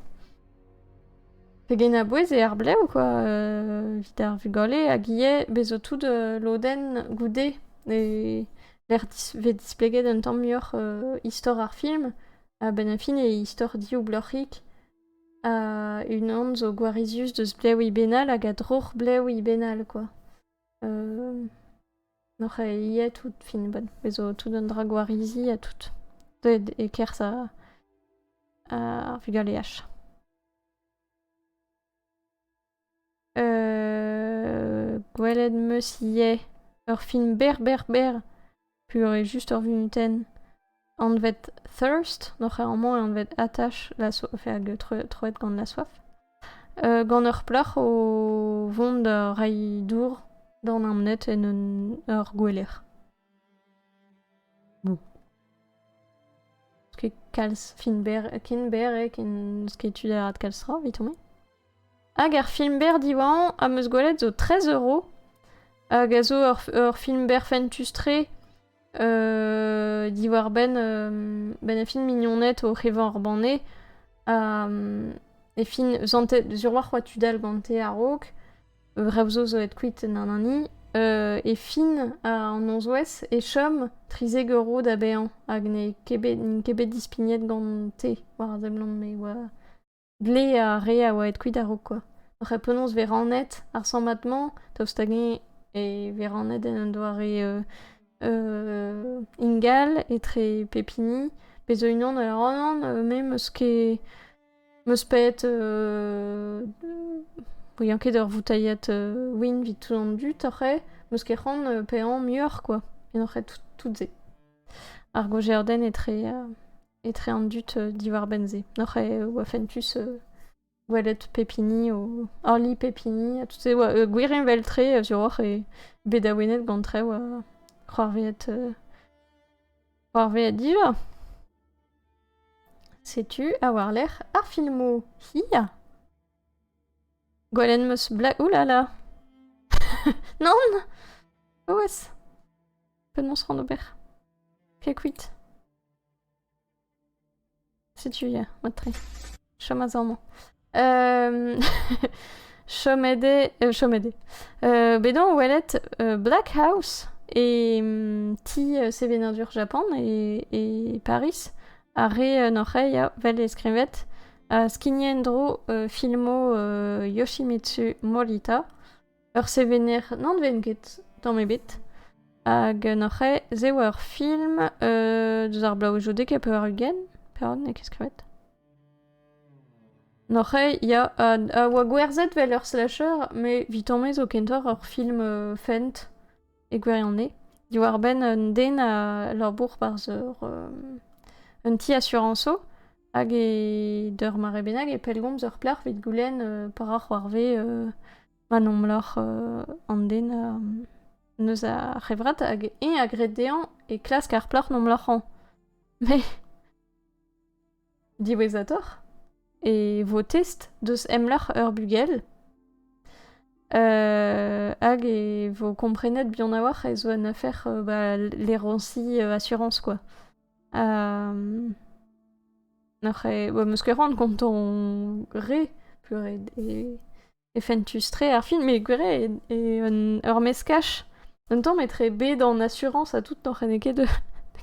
pegen a-bouez eo ar blev quoi, euh, evit ar vugale hag ivez bezo tout euh, lodenn goude e lec'h dis- vez displeget un tamm muioc'h euh, istor ar film. A-benn a fin e istor dioubloc'hik. Ha unan zo gwarizius deus blev Ibenal hag a droc'h blev Ibenal quoi. N'oc'h aet out fin 'bat. Bez 'zo tout an dra gwarizi ha tout. Deuet e-kerzh ar vugaleaj. Gwelet 'm eus ivez ur film berr berr berr. pure-just ur vunutenn anvet thirst d'o c'hêr-mañ e anvet attache la soif troet gant la soif gant ur plac'h o vont da reiñ dour d'an amnet en ur gouelec'h kalz ken berr ken berr eo ken sketoù da kalz tra evit hon Hag ar film-berr diwañ am eus gwelet zo 13 euro. Hag a zo ur, ur film-berr fentus-tre euh, diwar-benn euh, ben e film mignoned o c'hevañ ar banne. Ha e film zantet sur war c'hoa tud all gante a-raok. Rev zo zo aet kuit nanani. Euh, e fin an nozvezh e chom 30 euro da baeañ hag n'eo ket bet, n'int ket bet dispignet gante war a seblant me oa... Dle ar re a oa aet kuit a-raok kwa. Ar c'hre penaos vez rannet ar sammad-mañ, daoust hag-eñ e vez rannet en un doare ingal etre pep hini, pe zo unan a ra anvan, me 'm eus ket... 'm eus paeet ouiañ ket ur voutailhad win evit tout an dud ar c'hre, 'm eus ket c'hoant paeañ muioc'h kwa en hor c'hre tout-se. Ar gozhiadenn etre etre an dud diwar-benn-se. Oc'h e oa fentus gwelet pep hini o horliñ pep hini ha tout se oa gwirheñvel-tre sur oc'h eo bet awenet gant traoù a c'hoarvezet c'hoarvezet diva. Setu ha war-lerc'h ar filmoù hir. Gwelet 'm eus Black... Oulala! Non! Oh wes! Penaos c'hoant ober? Piakuit! Setu ya, mat-tre. Chom a-zav-mañ. chomet eo, euh, chomet eo. Euh, bet on o welet euh, Black House e mm, ti euh, sevenadur Japan e, e Paris. Ar re en hoc'h ya, vel e skrivet, a skigno en-dro euh, filmo euh, Yoshimitsu Morita. Ur sevener n'anven ket tamm ebet. Hag n'oc'h ket, se oa ur film deus ar bloavezhioù-dek ha pevar-ugent. Pevar-ugent n'eo ket skrivet. N'oc'h ket, ya, a oa gwerzhet 'vel ur slasher, met 'vitañ-me zo kentoc'h ur film fent e gwirionez. Diwar-benn un den a labour barzh ur un ti asurañsoù. Hag e d'ur mare bennak e pellgomz ur plac'h evit goulenn euh, pa ra c'hoarvez euh, ma nomloc'h euh, an den euh, eus ar c'hevrat hag eñ a gred dezhañ e klask ar plac'h nomloc'hañ. Mais diwezhatoc'h e vo test deus emloc'h ur bugel euh, hag e vo komprenet buan a-walc'h ez zo un afer euh, bah, lérancier euh, assurance quoi. Um, N'oc'h eo... Em eus ket c'hoant gant ton re, purée, e, e fentus-tre ar film, mais gwir eo un ur meskaj. Un tamm etre bet en assurance ha tout n'oc'h ene ket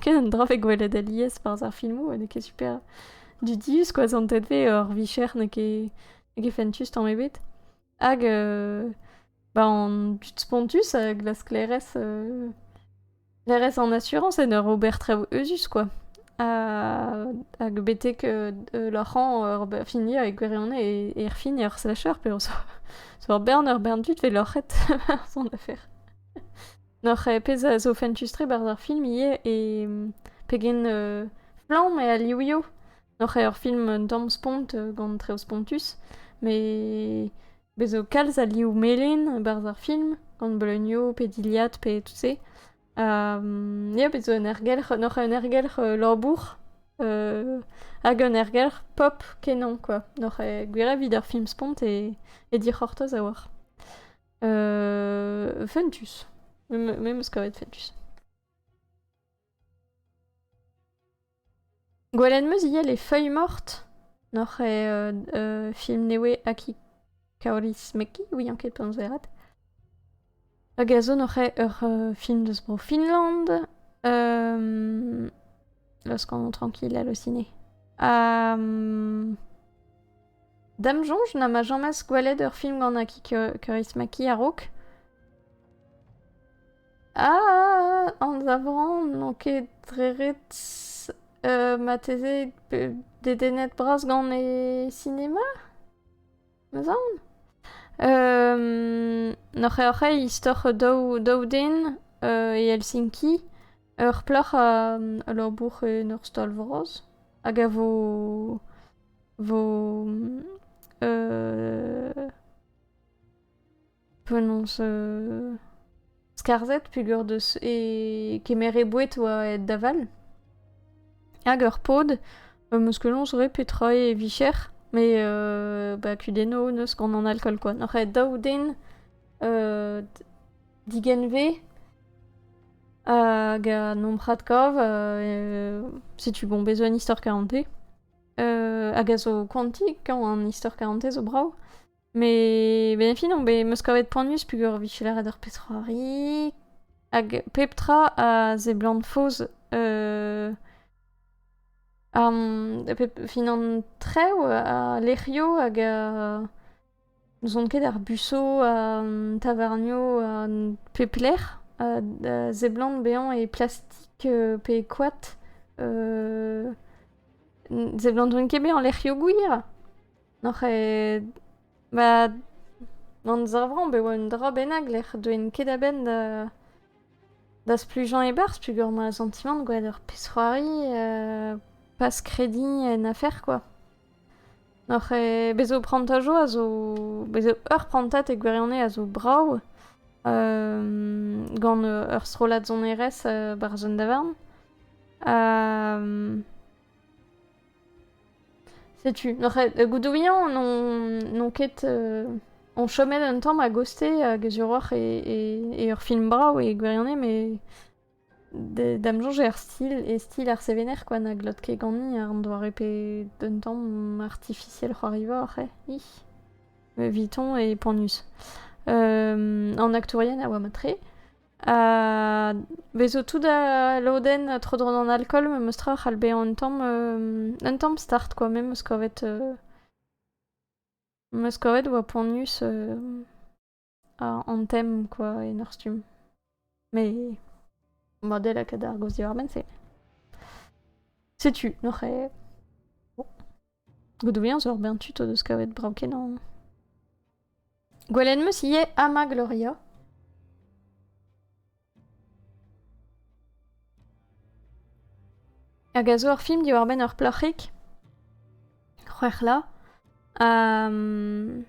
ket un dra vez gwelet alies barzh ar filmoù, n'eo ket super dudius, quoi, zantet vez ur vicher n'eo ket, n'eo ket fentus tamm ebet. Hag, euh, bah, an dud spontus a glas sklaerezh euh, Ne rez en asurañs en ur ober traoù euzhus, quoi. Ha hag betek euh, euh, loc'h hañ ur be- fini avec gwirionez e e erfini ar slasher p'eo zo zo ur bern ur bern tud 'vez loc'het war son afer. N'oc'h ket pezh a zo fentus-tre 'barzh ar film ivez e mm, pegen euh, flamm eo al livioù. N'oc'h ket ur film un tamm spont euh, gant traoù spontus, met Bez' zo kalz a liv melen e-barzh ar film, gant bleunioù pe dilhad pe tout-se. Ha ya, bez' zo un ergelc'h, un oc'h un ergelc'h euh, labour euh, hag un ergelc'h pop kenañ quoi. N'oc'h ket gwir evit ar film spont e, e dic'hortoz a-walc'h. Euh, fentus. Me 'm eus kavet fentus. Gwelet 'm eus ivez Les Feuilles Mortes n'oc'h eo film newe Aki Kaorismäki, ouian ket penaos lâret. Hag a zo n'oc'h eo ur film deus Bro-Finland, Los Con Tranquillas le Ciné. Ha da'm soñj na 'ma james gwelet ur film gant Aki Kaorismäki a-raok. Ah! Anzavran n'on ket re ret marteze dedennet bras gant e sinema, m'eus aon? N- oc'h-oc'h-eo istor daou daou den e Helsinki, ur plac'h a labour en ur stal vras hag a vo vo penaos skarzhet peger deus e kemer e boued oa aet da vall. Hag ur pod, am eus kenaos re petra e vicher, met euh, ba kudenno neus gant an alkool kwa. Noc'h aet daou den euh, digenve hag a nomprad kav, euh, setu bon besoin istor 40 hag a zo koanti, kañ an istor 40 zo brav. Mais ben fin on bet meus kavet poanius peger vije lâret ur petra-c'hoari hag pep tra a seblant faos euh, ar pep fin an trev a lec'hioù hag a n'ouzon ket ar buso a tavarnio a pep lec'h a, a seblant bezañ e plastik euh, pe e koad euh, seblant ket bezañ lec'hioù gwir N'oc'h ket... ba... amzer vrav e oa un dra bennak lec'h deuent ket a-benn da... da splujañ e-barzh peogwir 'mañ ar santimant gwelet ur pezh-c'hoari pas krediñ en afer kwa. N'oc'h ket... bez' zo prantad zo a zo... bez' zo ur prantad e gwirionez a zo brav gant ur strollad sonerezh 'barzh un davarn. Setu, noc'het, euh, Goudouillan, n'on ket... Euh, on chomet un tamm a goste hag a e, ur film brav e gwirionez, mais d'am soñj er stil, e stil ar sevener quoi, na glot ket ganin an doare pe d'un tamm artificiel c'hoariva oc'h eh? Eviton et Ponus. en actourien a oa mat-tre. Ha bezo tout al lodenn tro-dro d'an alkool, memes tra c'hall bezañ un tamm, un tamm start quoi, me 'meus kavet, meus kavet oa poanius an tem quoi en ur stumm. Mais model a kadarn gouest diwar-benn se. Setu neuze. Godouiañ zo ur bern tud o deus kavet brav-kenañ. Gwelet 'meus ivez Ama Gloria. Hag a zo ur film diwar-benn ur plac'hig, c'hwec'hla, ha... Um,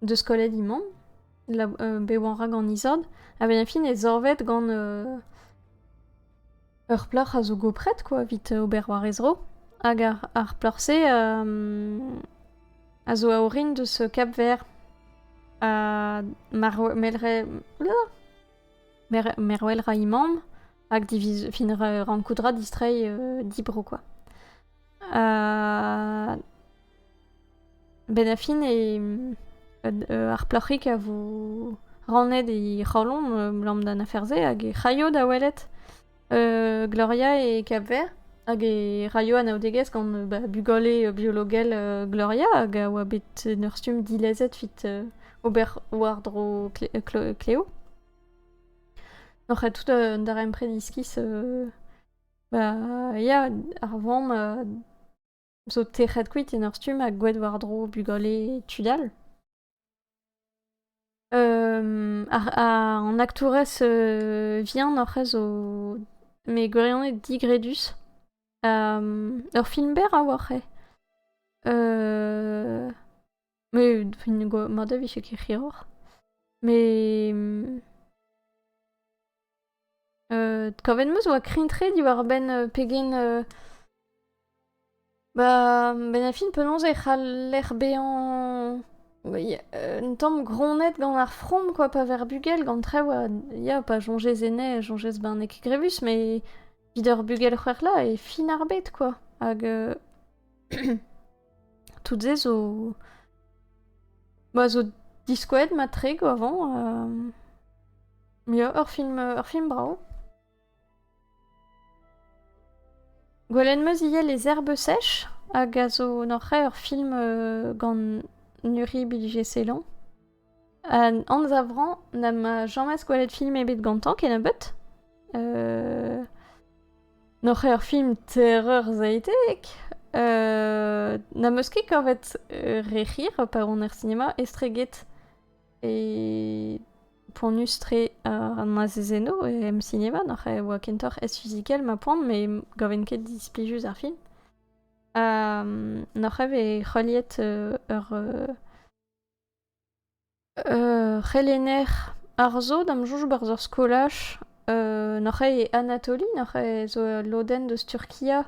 deus kolledi man, euh, bet oan ra gant isord, a ben fin e zorvet gant euh, ur plac'h a zo gopret, quoi, vit ober war e zro. Hag ar, ar plac'h-se a zo aorin deus Cap-Vert ha merwel ra imam hag fin rankoudra distrei euh, dibro, quoi. Benn ar fin ar plac'hig a vo rannet he c'halon abalamour d'an afer-se hag he c'haio da welet Gloria e Kap-Vert hag e raio anaoudegezh gant bugale biologel Gloria hag a oa bet en ur stumm dilezet evit ober war-dro Kleo. Nac'h tout an darempred iskis Bah, ya, ar vamm euh, zo tec'het kuit en ur stumm ha gouet war-dro bugale tud all. Euh, ar, ar- an aktourez euh, vihan hoc'h eus zo... Mais gwirionez digredus. Euh, ur film berr a oa c'hwe. Euh, mat a vije ket hiroc'h met kavet 'm eus e oa krign-tre diwar-benn pegen ba benafin penaos e c'haller bezañ un tamm gronnet gant ar from quoi pa ver bugel gant traoù a ya pas soñjez e nez soñjez ben n'eo ket grevus met evit ur bugel c'hwec'h 'la e fin ar bed quoi hag Tout-se zo... Ma zo diskouezet matre go avant. Euh... Ya, ur film, ur film brao. Gwelenn meus ivez Les Herbes Sèches, hag a zo noc'h ur film euh, gant Nuri Bilge-Selan. An anzavrañ n'am james gwelet film ebet gantañ kennebeut. Euh... N'oc'h ket ur film terreur-zaetek. Euh... N'am eus ket kavet euh, re c'hir pa on er sinema estreget e poanius-tre an azezennoù e em sinema. N'oc'h e oa kentoc'h ez-fizikel ma poan, me gaven ket displijus ar film. Um, N'oc'h e vez heuliet euh, ur... Euh... Ur c'helenner arzo da'm soñj 'barzh ur skolaj nac'h eo e Anatoli, nac'h eo zo ul lodenn eus Turkia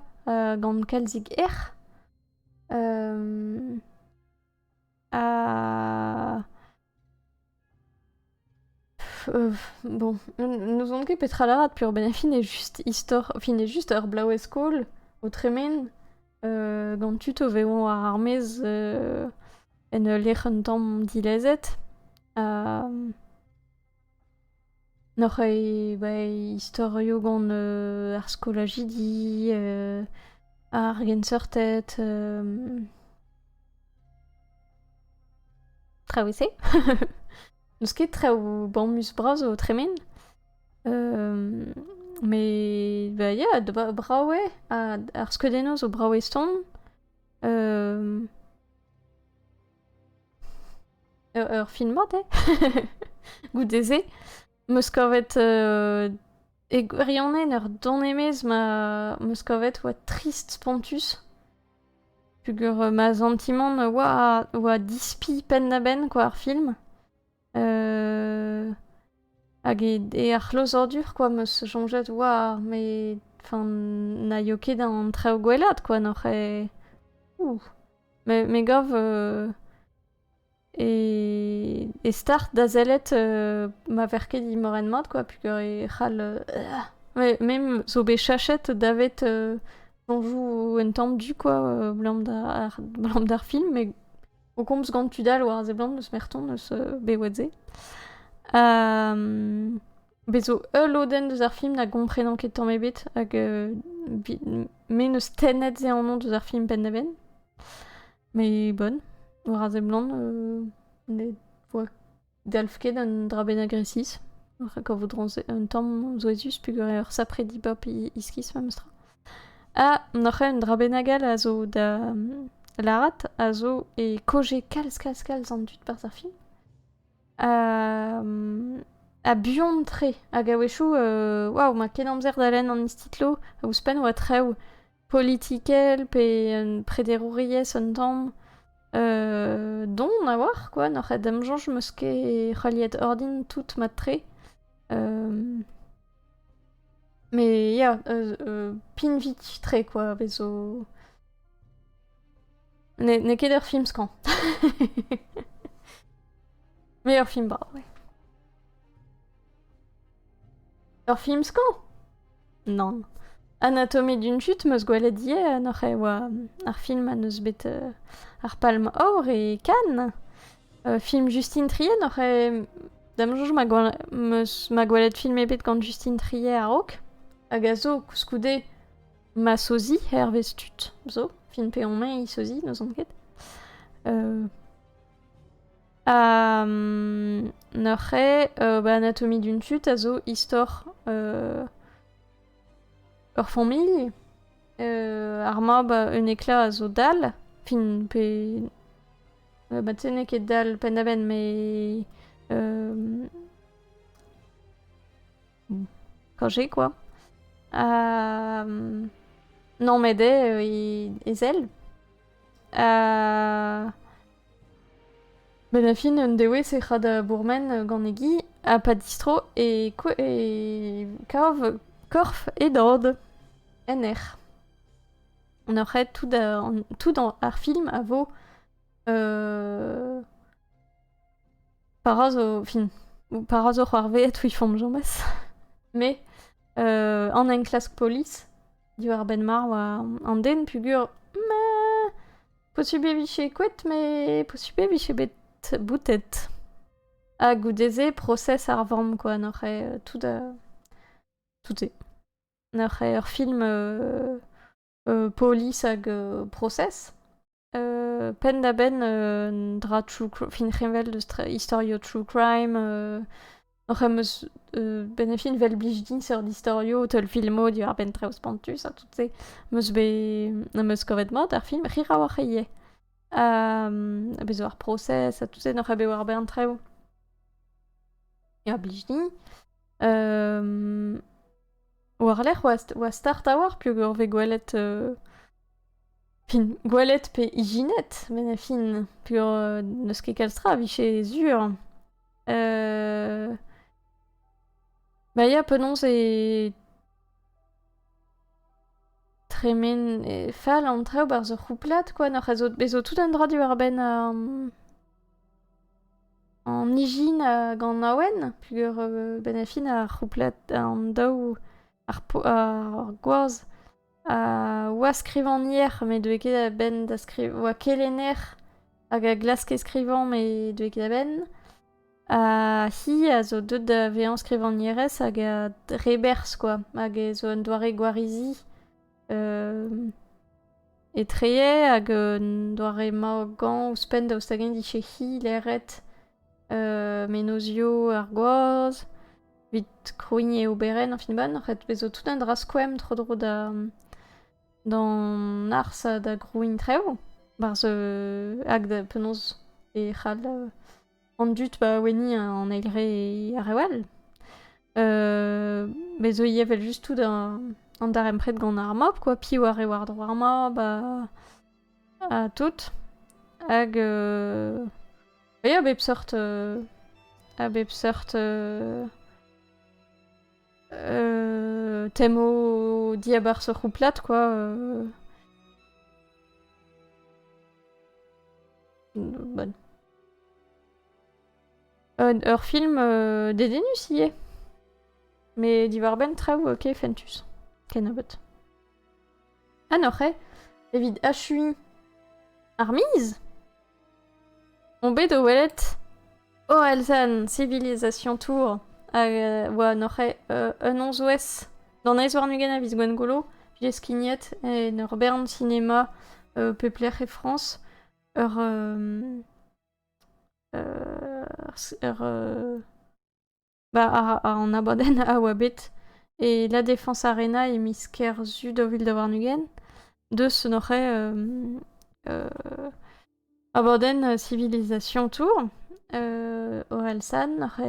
gant kalzik erc'h ha Bon, n'ouzon ket petra lârat peurbenn. Fin eo just istor, fin eo just ur blaouez-skol o tremen gant tud o vezañ war ar maez en ul lec'h un tamm dilezet. N'oc'h ket bet istorioù gant ar skolajidi, ar genseurted. Traoù ese N'eus ket traoù bamus bras o tremen. Euh, mais bah, yeah, d- brav eo. Ha ar skeudennoù zo brav eston. Euh, ur ur film mat eo. Goude-se, 'm eus kavet euh, E gwirionez, ur don-emez ma 'meus kavet oa trist spontus. Pugur euh, ma santimant oa, oa dispi penn-da-benn quoi ar film. Euh, hag e, e ar c'hlozadur quoi 'meus soñjet oa, mais enfin na eo ket an traoù gwellaat quoi, n'oc'h e... Ouh. Me, me gav euh, E, e start da sellet euh, ma ver ket dimorenn mat, quoi, pugur e c'hall... Euh, me zo bet chachet davet euh, soñjoù un tamm du, quoi, euh, blam d'ar blam d'ar film, met o komz gant tud all war a seblant eus merton eus euh, bewetze. Euh, Bez zo ul lodenn deus ar film na gomprenan ket tamm ebet, hag euh, me neus tennet se annon deus ar film penn-da-benn. Mais bonne. War a seblant, euh, ne voa dalv ket un dra bennak resis. Rak a voudron un tamm souezhus peogwir sapre dibab iskis memestra. Ha noc'h un dra bennak all a zo da lârat, a zo e koje kalz, kalz, kalz an dud barzh ar film. Uh, a buan-tre, hag a-wechoù, euh, waouh, ma ken amzer da lenn an istitlo, a ouzhpenn oa trev, politikel pe un prederouriezh un tamm euh, don a oar quoi n'oc'h et d'am soñj 'meus ket c'heuliet ordin tout mat-tre euh, mais ya euh, euh, pinvit-tre quoi vezo n'eo ket ur film skañv mais ur film barr ouais ur film skañv Nann. Anatomy d'une chute 'm eus gwelet ivez en hoc'h ev ar film ma n'eus bet ar palm aour e Cannes. film Justine Trier n'oc'h da'm soñj ma gwelet film ebet gant Justine Trier a-raok. Hag a zo koulskoude ma sozi hervez tud zo. Film peomp-eñ sozi, n'ouzon ket. N'eur c'hrae ba anatomie d'un tud a zo istor ur familh. ar mab un ekla a zo dall. Fin pe... ba te n'eo ket dall penn-da-benn met... Kañje kwa. Ha... Non met eo e zell. Benn a fin un dewezh e ra da bourmen gant e gi ha pa distro e kav korf e dad en erc'h. En ur c'haet tout ar film a vo para zo fin para zo c'hoarveet ouiñ 'fomp james. Me an enklask polis. Diwar-benn mar oa an den pugur ma posupl e vije kouet, mais posupl e vije bet boutet. Ha goude-se, prosez ar vamm, quoi, n'oc'h eo tout a... tout eo. N'oc'h eo ur film euh... euh... polis hag euh... prosez. penn-da-benn un dra true crime fin c'heñvel deus istorioù true crime oc'h em eus benn e fin vel blij din seurt istorioù teulfilmoù diwar-benn traoù spontus ha tout se meus bet am eus kavet mat ar film Rirawalc'h ivez ha bez zo ar prosez ha tout se n'oc'h bet war-benn traoù a blij din war-lerc'h oa start a-walc'h peogwir 'vez gwelet Fin, gwelet pe ijinet, met a fin, peogwir n'eus ket kalz tra a vije sur. Bah ya, penaos e tremen, e fall an traoù 'barzh ur c'houplad kwa, n'oc'h a zo bezo tout un dra diwar-benn an ijin hag an awen, peogwir benn a fin ar c'houplad, an daou, ar po- ar gwaz. oa skrivagner, met deuet ket a-benn da skrivañ. Oa kelenner hag a glaske skrivañ, met deuet ket a-benn. Ha hi a zo deuet da vezañ skrivagnerez hag a reberzh, quoi. Hag ez zo un doare gwarizi etre hag un doare maogañ ouzhpenn daoust hag-eñ 'dije-hi leret menozioù ar gwaz, evit krouiñ e oberenn en fin-bann. En fait, vezo tout un dra skoemp tro-dro da d'an ars ha da grouiñ traoù. Barzh hag da penaos e c'hall an dud baouenniñ an eil re ar re all. Bezo ivez evel-just tout an darempred gant ar mab, quoi. Piv a re war-dro ar mab ha ha tout. Hag euh, a bep seurt... Euh, a bep seurt... Euh, euh, temo diabar se c'houplad, quoi. Euh. Bonne. Un, ur film euh, dédénus hier. Mais divarben traou, ok, fentus. Kenabot. Ha n'oc'h eo evit achuiñ ar miz On bet o welet Oelzen Civilisation Tour hag e oa n'oc'h eo euh, un onsouez d'an eizh warn-ugent a viz Gwengolo j'ai skignet en ur bern sinema euh, pep lec'h e Frañs ur euh, ur, ur, euh, Bah, an abadenn a oa bet e La Défense Arena e miz Kerzu daou vil da warn-ugent. Deus en oc'h abadenn Civilisation Tour, Orelsan, n'oc'h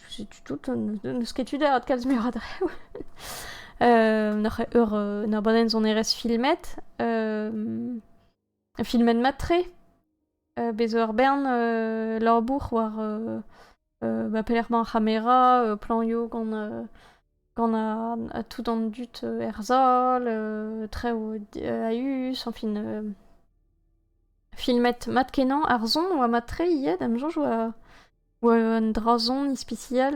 setu tout, n'eus ket tu da adkalz muioc'h a draoù. N'oc'h eur un abadenn sonerezh filmet, filmet mat-tre. Bez' zo ur bern labour war ba pelec'h emañ ar c'hamera, planioù gant gant a tout an dud er sal, traoù a-us, añfin filmet mat-kenañ. Ar son 'oa mat-tre ivez, da'm soñj 'oa un dra-son ispisial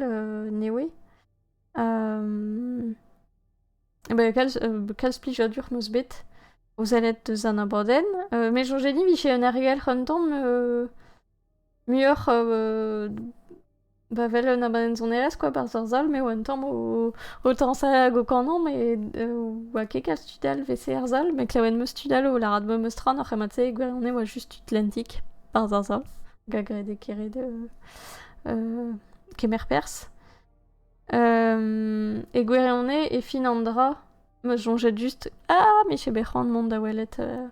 nevez. Kalz plijadur 'm eus bet o sellet deus an abadenn. Met soñj din e vije un argelc'h un tamm muioc'h ba 'vel un abadenn sonerezh quoi, barzh ar sal m'eo un tamm o tañsal hag o kanañ met oa ket kalz tud all 'vese er sal met klevet 'm eus tud all o lârat memes tra n'oc'h ket mat-se e gwirionez oa just tud lentik barzh ar sal hag a grede kere kemer perzh. E gwirionez, e fin an dra, ma soñjet just, ah, mais j'ai besoin mont da welet, euh,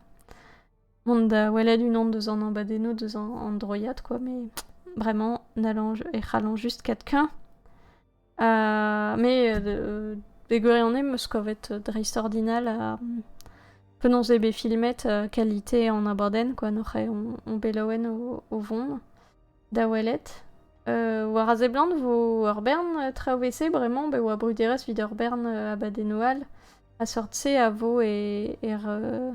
mont da welet unan deus an abadennoù deus an, an droiad, quoi, mais vraiment, n'allant, e c'hallan juste quelqu'un. Euh, mais euh, e gwirionez, meus kavet dreist-ordinal a penaos eo bet filmet euh, qualité an abadenn, quoi, noc'h eo on, on belaouen o, o vont. da welet. Euh, war a seblant vo ur bern traoù wese bremañ be oa bruderezh evit ur bern euh, abadennoù a seurt-se a vo e er euh,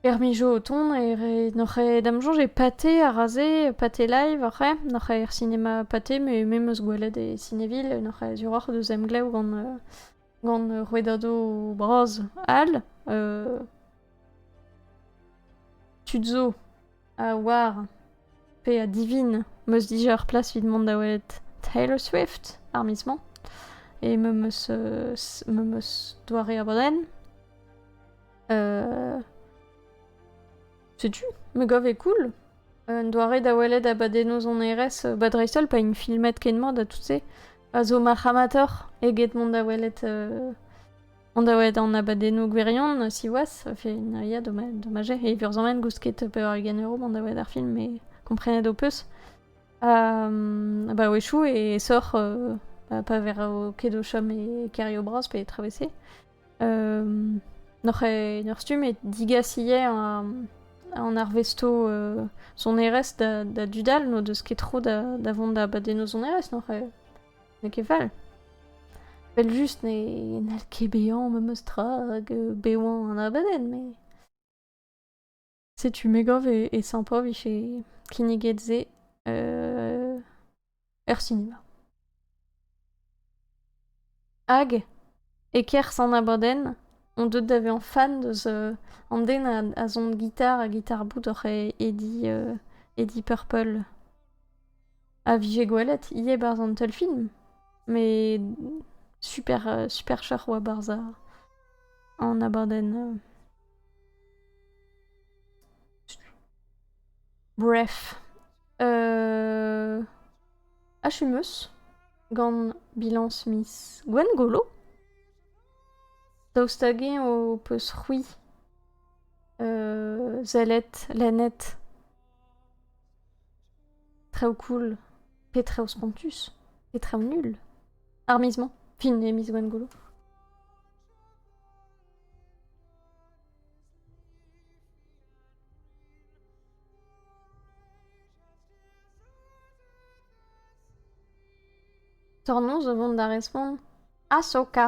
er mijo o tont e re n'oc'h dam soñj e pate ar raze pate live oc'h n'oc'h er sinema pate me me meus gwelet e Cineville n'oc'h azuroc'h deus emglev gant euh, gant rouedado bras all tu zo A oar. Pe a divin. Meus dija ur plas evit mont da welet Taylor Swift, ar miz-mañ. E me meus, euh, me meus doare abadenn. Euh, setu, me gav e cool. Un doare da welet abadennoù sonerezh, euh, ba dreist-holl pa int filmet ken mat ha tout se, a zo marc'h amateur eget mont da welet euh, On da welet an abadennoù gwirion, siwazh, ça fait une aria dommage. Et vurzhamen gousket pevar-ugent euro ban da welet ar film, mais komprenet ho peus. Um, bah échou et sort euh, bah, pas vers au quai chom et Kerio Bros pe travessé. Um, Nor e nor stumm et digasillet en, en arvesto euh, son erest da, da dudal no deus ket tro da, da vont da badenno son erest nor e N'eo ket fall. Vel-just ne n'hall ket bezañ memes tra hag euh, bevañ an abadenn, mais... Setu me gav e, e sympa vije kinniget se euh, er sinema. Hag, e-kerzh an abadenn, on deuet da vezañ fan deus euh, an den a, a son gitar ha gitar-boud oc'h e Eddie, euh, Eddie Purple. a vije gwelet ivez barzh an teulfilm. Mais super, euh, super char oa barzh an abadenn. Euh. Bref. Euh... Achumus, gant bilañs miz Gwengolo. Daoust hag-eñ ho peus c'hwi euh, zellet, lennet Traoù cool, pe traoù spontus, pe traoù nul. Ar miz-mañ, fin e miz Gwengolo. Tornoz o vont da respont Ahsoka.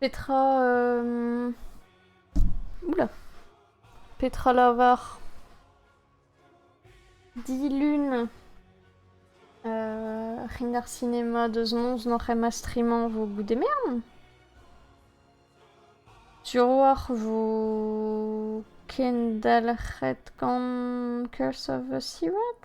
Petra... euh... Oula. Petra lavar Dilun euh, Rin ar cinéma deus noz n'oc'h em astrimañ vo goude mern Turoar vo kendalc'het gant Curse of the Seward?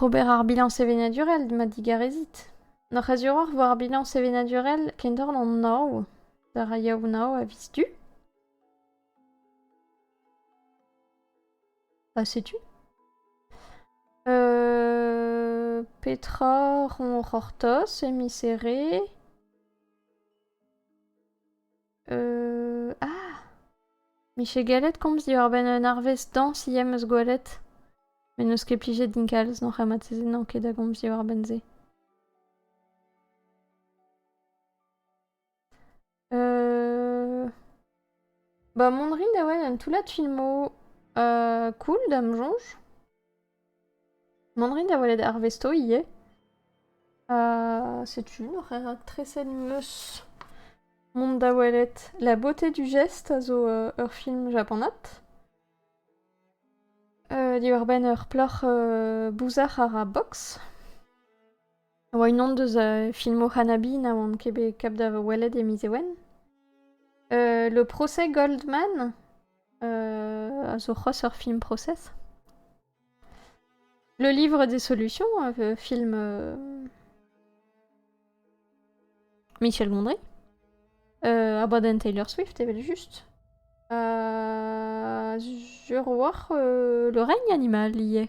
Ober ar bilañs sevenadurel ma digarezit. N'hoc'h eus hiroc'h war ar bilañs sevenadurel kendorn an Ao. d'ar Yaounav a viz du? Ha setu. Euh, petra on c'hortoz e miz Here? Euh... Ah Miche Gallet komz diwar-benn un arvest dañs ivez 'm eus gwelet. Met n'eus ket plijet din kalz n'oc'h amateze n'on ket da gomz diwar-benn se. Euh... Ba mont 'rin da welet un toullad filmoù euh, cool da'm soñj. Mont 'rin da welet arvesto ivez. setu un horaire raktreset 'm eus. Mont da welet La beauté du geste a zo ur film japanat. diwar-benn ur plac'h bouzar a ra boks. a oa unan deus filmoù Hanabi na oan ket bet kap da welet e miz Ewen. Le Procès Goldman a zo c'hoazh ur film procès. Le livre des solutions, un film Michel Gondry, a baden Taylor Swift evel-just. A zur war le règne animal ivez.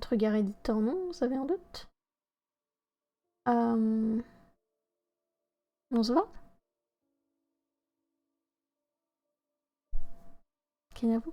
Trugarez dit ça vient d'août. Euh, on se voit Kenavo.